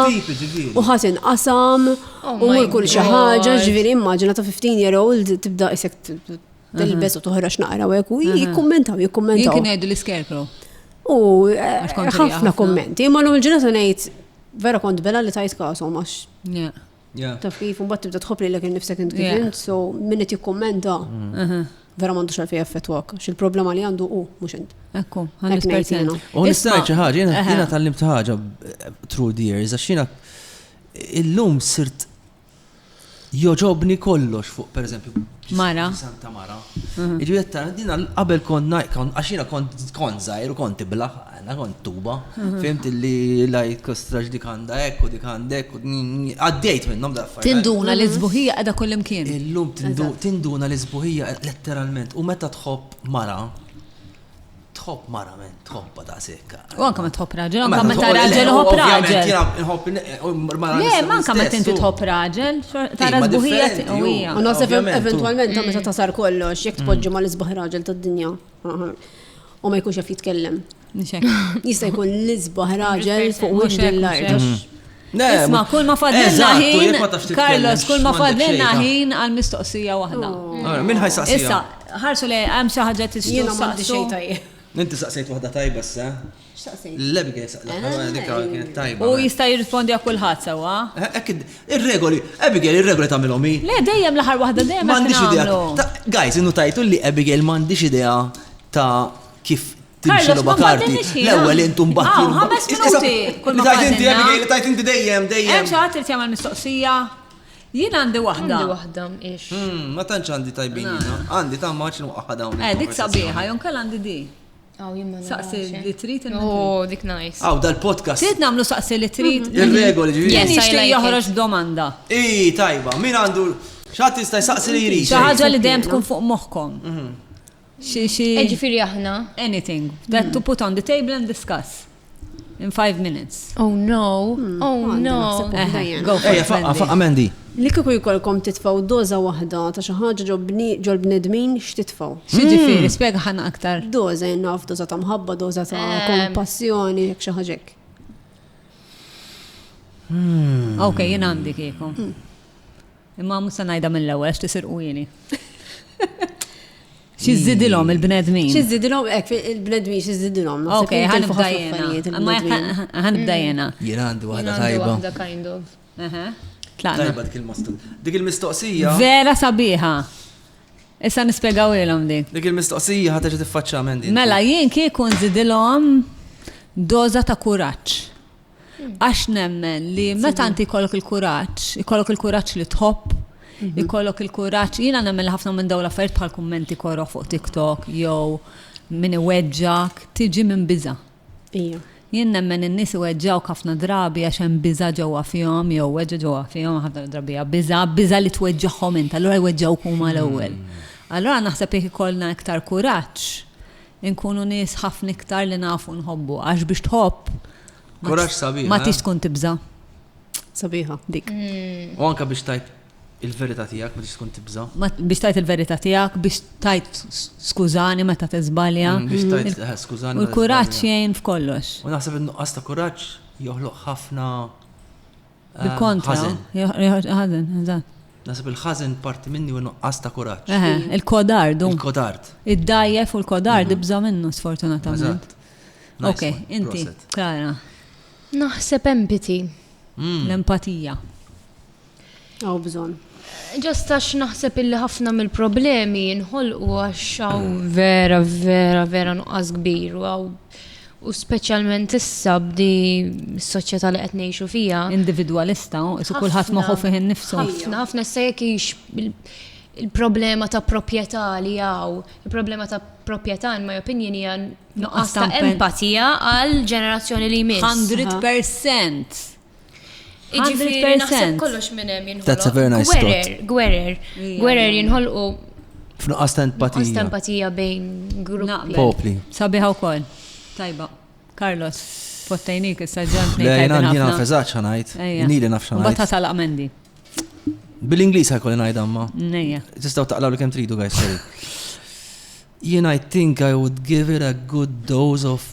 U ħasin qasam oh u mur kull xi ħaġa ġifieri immaġina ta' 15 year old tibda isek tilbes u toħra x'naqra u u jikkommentaw jikkommentaw. Jien kien l-iskerkru. U eh, ħafna kommenti, imma l-ġurnata ngħid vera kont bela li tajt kasom għax. Taf kif, un bat tibda tħob li l-ekin nifsek int kif int, so minn qed jikkummenta. Mm. Vera mandu xalfi jaffetwak, xil problema li għandu u mux int. Ekku, għandu sperzina. U nistaj ċaħġa, jena tal-lim ċaħġa through the years, għax jena illum sirt joġobni kollox fuq, per eżempju, Mara. Santa Mara. Iġu jetta, dina qabel kont najkon, għaxina kont zaħir u kont iblaħ, Għandna kont tuba, fimt li lajt kostrax dik għandha hekk u dik għandha hekk u għaddejt minnhom dal affarijiet. Tinduna li sbuħija qiegħda kullimkien. Illum tinduna li sbuħija letteralment u meta tħobb mara tħobb mara men, tħobba ta' sekka. U anka ma tħobb raġel, anka meta raġel tħobb raġel. Le, ma anka meta inti tħobb raġel, tara sbuħija u hija. U naħseb eventwalment meta tasar kollox, jekk tpoġġu ma l-isbaħ raġel tad-dinja. U ma jkunx jaf jitkellem. Jista' jkun l-isbaħ raġel fuq wiċċ l-art. Isma, kull ma fadlina ħin, Carlos, kull ma fadlina ħin għal mistoqsija waħda. Oh. Min ħajsaqsija? Issa, ħarsu li hemm xi ħaġa tixtieq. Jiena ma għandi xejn tajjeb. Inti saqsejt waħda tajba sa? X'taqsejt? L-Abigail saqsejt. Allora dik kienet tajba. U jista' jirrispondi għal kulħadd sewwa. Hekk ir-regoli, Abigail ir-regoli tagħmilhom hi. Le dejjem l-aħħar waħda dejjem m'għandix idea. Guys, innu tajtu li Abigail m'għandix idea ta' kif timxi l karti. L-ewwel intum baħti. Ah, ħames minuti. Kull ma tajt inti Abigail, tajt inti dejjem, dejjem. Hemm xi ħadd irid jagħmel mistoqsija. Jien għandi waħda. Għandi waħda, ix. Hmm, ma tantx għandi tajbin. Għandi ta' maċ nuqqaħħa dawn. Eh, dik sabiħa, jon kell għandi di. Aw, jimma Saqsi li trid il Oh, dik nice. Aw, dal-podcast. Trid namlu saqsi li trid. Mm-hmm. Ir-regoli ġifieri. Yes, I like joħroġ domanda. Ii, tajba, min għandu xatt jista' jsaqsi li jrid. Xi ħaġa li dejjem tkun fuq moħħkom. Mm-hmm. Xi xi. Eh, ġifieri aħna. Anything that to put on the table and discuss. In five minutes. Oh no, hmm. oh no. Go for it. Faqqa, faqqa Mandy. Li kiku jkollkom titfaw doza wahda ta' xi ħaġa ġol bnedmin x'titfaw. X'ġifieri, hmm. spjega ħana aktar. Doza jennaf, doza ta' mħabba, doza ta' eh. kompassjoni, jekk xi ħaġek. Hmm. Ok, jien għandi kieku. Imma mhux se ngħidha mill-ewwel għax tisirqu ili. Xi żidilhom il-bnedmin? Xi żidilhom hekk il-bnedmin xi żidilhom. Ok, ħanibda jiena. Ħanibda jiena. Jiena għandi waħda tajba. Tlaqna. Tajba dik il-mistoqsija. Dik il-mistoqsija. Vera sabiħa. Issa nispjegaw ilhom dik. Dik il-mistoqsija ħadd tiffaċċa minn din. Mela jien kieku nżidilhom doża ta' kuraġġ. Għax nemmen li meta inti jkollok il-kuraġġ, ikollok il-kuraġġ li tħobb, mhm. ikollok il-kuraġġ, jiena nemmen li ħafna minn dawn l-affarijiet bħal kummenti korro fuq TikTok jew min iweġġak tiġi minn biża. Jien nemmen in-nies iweġġaw ħafna drabi għax hemm biża ġewwa fihom jew weġġa ġewwa fihom ħafna drabi biża, biża li tweġġagħhom int, allura jweġġaw huma l-ewwel. Hmm. Allura naħseb jekk ikollna iktar kuraġġ, Inkunu nies ħafna iktar li nafu nħobbu, għax biex tħobb. Kuraġġ sabiħ. Ma eh? tix tkun tibża. Sabiħa, dik. Mm. U anka biex tajt il-verità tiegħek ma tix tkun tibża. Biex tajt il-verità tiegħek, biex tajt skużani meta tiżbalja. Mm, biex tajt mm. eh, skużani. U l-kuraġġ jgħin f'kollox. U naħseb in-nuqqas ta' kuraġġ joħloq ħafna Bil-kontra. Ħażen, eżatt. Nasib il-ħażen parti minni u nuqqas ta' kuraġġ. Il-kodard. Il-kodard. Id-dajjef u l-kodard mhm. ibża minnu sfortunatament. Ok, inti, Klara. Naħseb empati. Mm. L-empatija. Għaw bżon. Ġost għax naħseb illi ħafna mill-problemi jinħolqu għax għaw vera, vera, vera nuqqas kbir u għaw U speċjalment issa b'di s-soċjetà li qed ngħixu fiha. Individwalista, isu kulħadd moħħu fih innifsu. Ħafna, ħafna issa jekk hix il-problema ta' proprjetà li hawn, il-problema ta' proprjetà in my opinion hija nuqqas ta' empatija għal ġenerazzjoni li jmiss. 100%. Jiġifieri naħseb kollox minn hemm jinħolqu. That's a very nice thought. Gwerer, gwerer, gwerer jinħolqu F'nuqqas ta' empatija. Nuqqas ta' empatija bejn gruppi. Popli. Sabiħa wkoll. Tajba. Carlos, fottajnik issa ġant ngħid. Lejna jiena feżax ħanajt. Nili naf xanajt. Bata tal amendi. Bil-Ingliż ħajkolli ngħid għamma. Nejja. Tistgħu taqlaw li kemm tridu guys, sorry. Jien I think I would give it a good dose of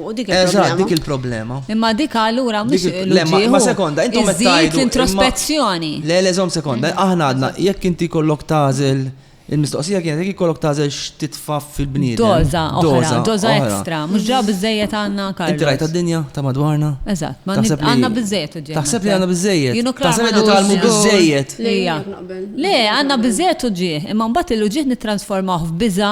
U dik il-problema. Eżatt, dik il-problema. Imma dik allura mhux l-ġieħu. Ma sekonda, intom qed tgħidu. l-introspezzjoni. Le, le, żomm sekonda. Mm. Aħna għadna, jekk inti kollok tażel Il-mistoqsija kienet jekk ikollok tażel x'titfa' fil-bniedem. Doza, oħra, doza ekstra, mhux ġa biżejjed għandna karta. Inti rajt għad-dinja ta' madwarna? Eżatt, ma għandna biżejjed uġġejjed. Taħseb li għandna biżejjed. Taħseb li tagħmlu biżejjed. Le, għandna biżejjed uġġieħ, imma mbagħad il-uġġieħ nittransformawh f'biża,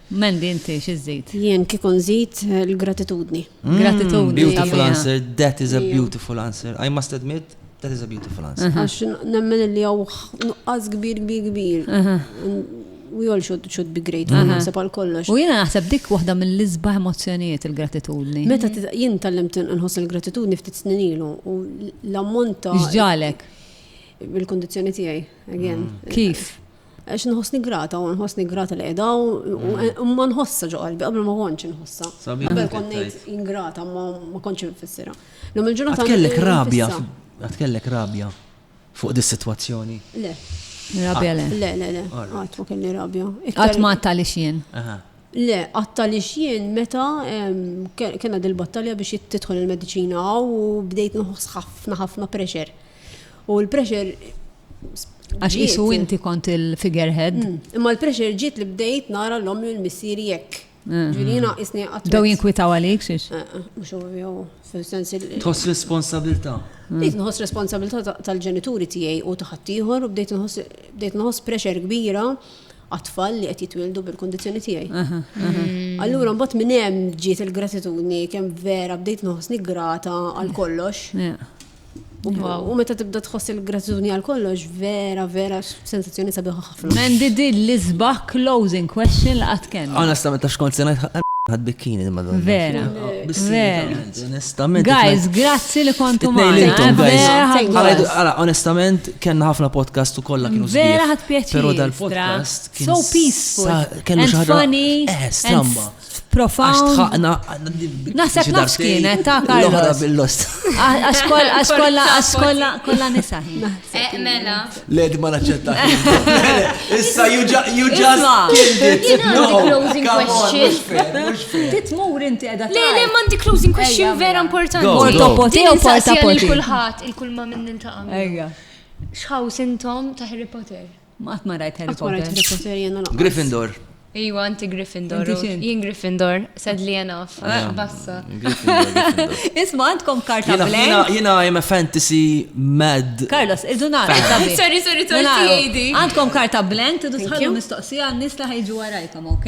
Mandy inti xi żżid? Jien kieku nżid l-gratitudni. Gratitudni. Beautiful answer, that is a beautiful answer. I must admit, that is a beautiful answer. Għax nemmen li hawn nuqqas kbir kbir kbir. We all should, should be grateful, uh -huh. naħseb għal kollox. U jiena naħseb dik waħda mill-isbaħ emozzjonijiet il-gratitudni. Meta jien tallimt nħoss il-gratitudni ftit snin ilu u l-ammont ta' X'ġalek? Il-kondizzjoni tiegħi, again. Mm. Kif? Għax nħossni grata, u nħossni grata li edha, u ma nħossa ġo qalbi, qabel ma konċ nħossa. Qabel konnejt ingrata, ma konċ nfissira. Lum il-ġurnata. Għatkellek rabja, għatkellek rabja fuq dis situazzjoni Le. Rabja le. Le, le, le. Għat ma kelli rabja. Għat ma għatta li xien. Le, għatta li xien meta kena dil-battalja biex jittitħol il-medicina u bdejt nħoss ħafna ħafna pressure. U l-pressure Għax isu inti kont il-figurehead. Mm. Imma l-pressure ġiet li bdejt nara l-om l missir jekk. Mm. Ġirina isni għat. Daw jinkwitaw għalik xiex? Eh, eh, mux u jew, fil-sens il- Tħoss responsabilta. Mm. Bdejt nħoss responsabilta tal-ġenituri tijaj u taħattijħor u bdejt nħoss pressure kbira għatfall li qed jitwildu bil-kondizjoni tiegħi. Mm. Allura mbagħad minn hemm ġiet il-gratitudni kemm vera bdejt noħsni grata għal kollox. U meta tibda tħoss il-gratitudni għal kollox, vera, vera, sensazzjoni sabiħa ħafna. Mendi di l-isbaħ closing question li qatt kien. Onestament, ta' xkont senajt ħad bikkini ma donna. Vera. Vera. Onestament. Guys, grazzi li kontu ma. Għala, onestament, kena ħafna podcast u kolla kienu Vera ħad pjaċi. Pero dal-podcast. So peaceful. Kena xaħra. And funny. Eh, stramba. Profound. Għax tħaqna. Naħseb nafx kienet ta' Carlos. bil-lost. Għax kolla, għax kolla, għax kolla, kolla nisa. Eh, mela. Led ma naċċetta. Issa, you just killed it. Jina closing question. Titmur inti edha. Le, le, mandi closing question vera mela. importanti. Portopoti u portopoti. Il-kulħat, il-kulma minn nintaqa. Ejja. Xħaw sintom ta' Harry Potter? Ma qatt ma rajt Harry Potter. Qatt ma rajt Harry Potter jiena lanqas. Gryffindor. Iwa inti Gryffindor. Jien Gryffindor, sadly enough. Bassa. Isma għandkom karta blank. Jiena I'm a fantasy mad. Carlos, irdu nara. Sorry, sorry, sorry. Għandkom karta blank, tidu tħallu mistoqsija għan-nies li ħajġu warajkom, ok?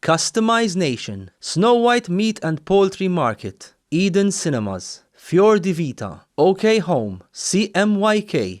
Customize Nation, Snow White Meat and Poultry Market, Eden Cinemas, Fior di Vita, OK Home, CMYK,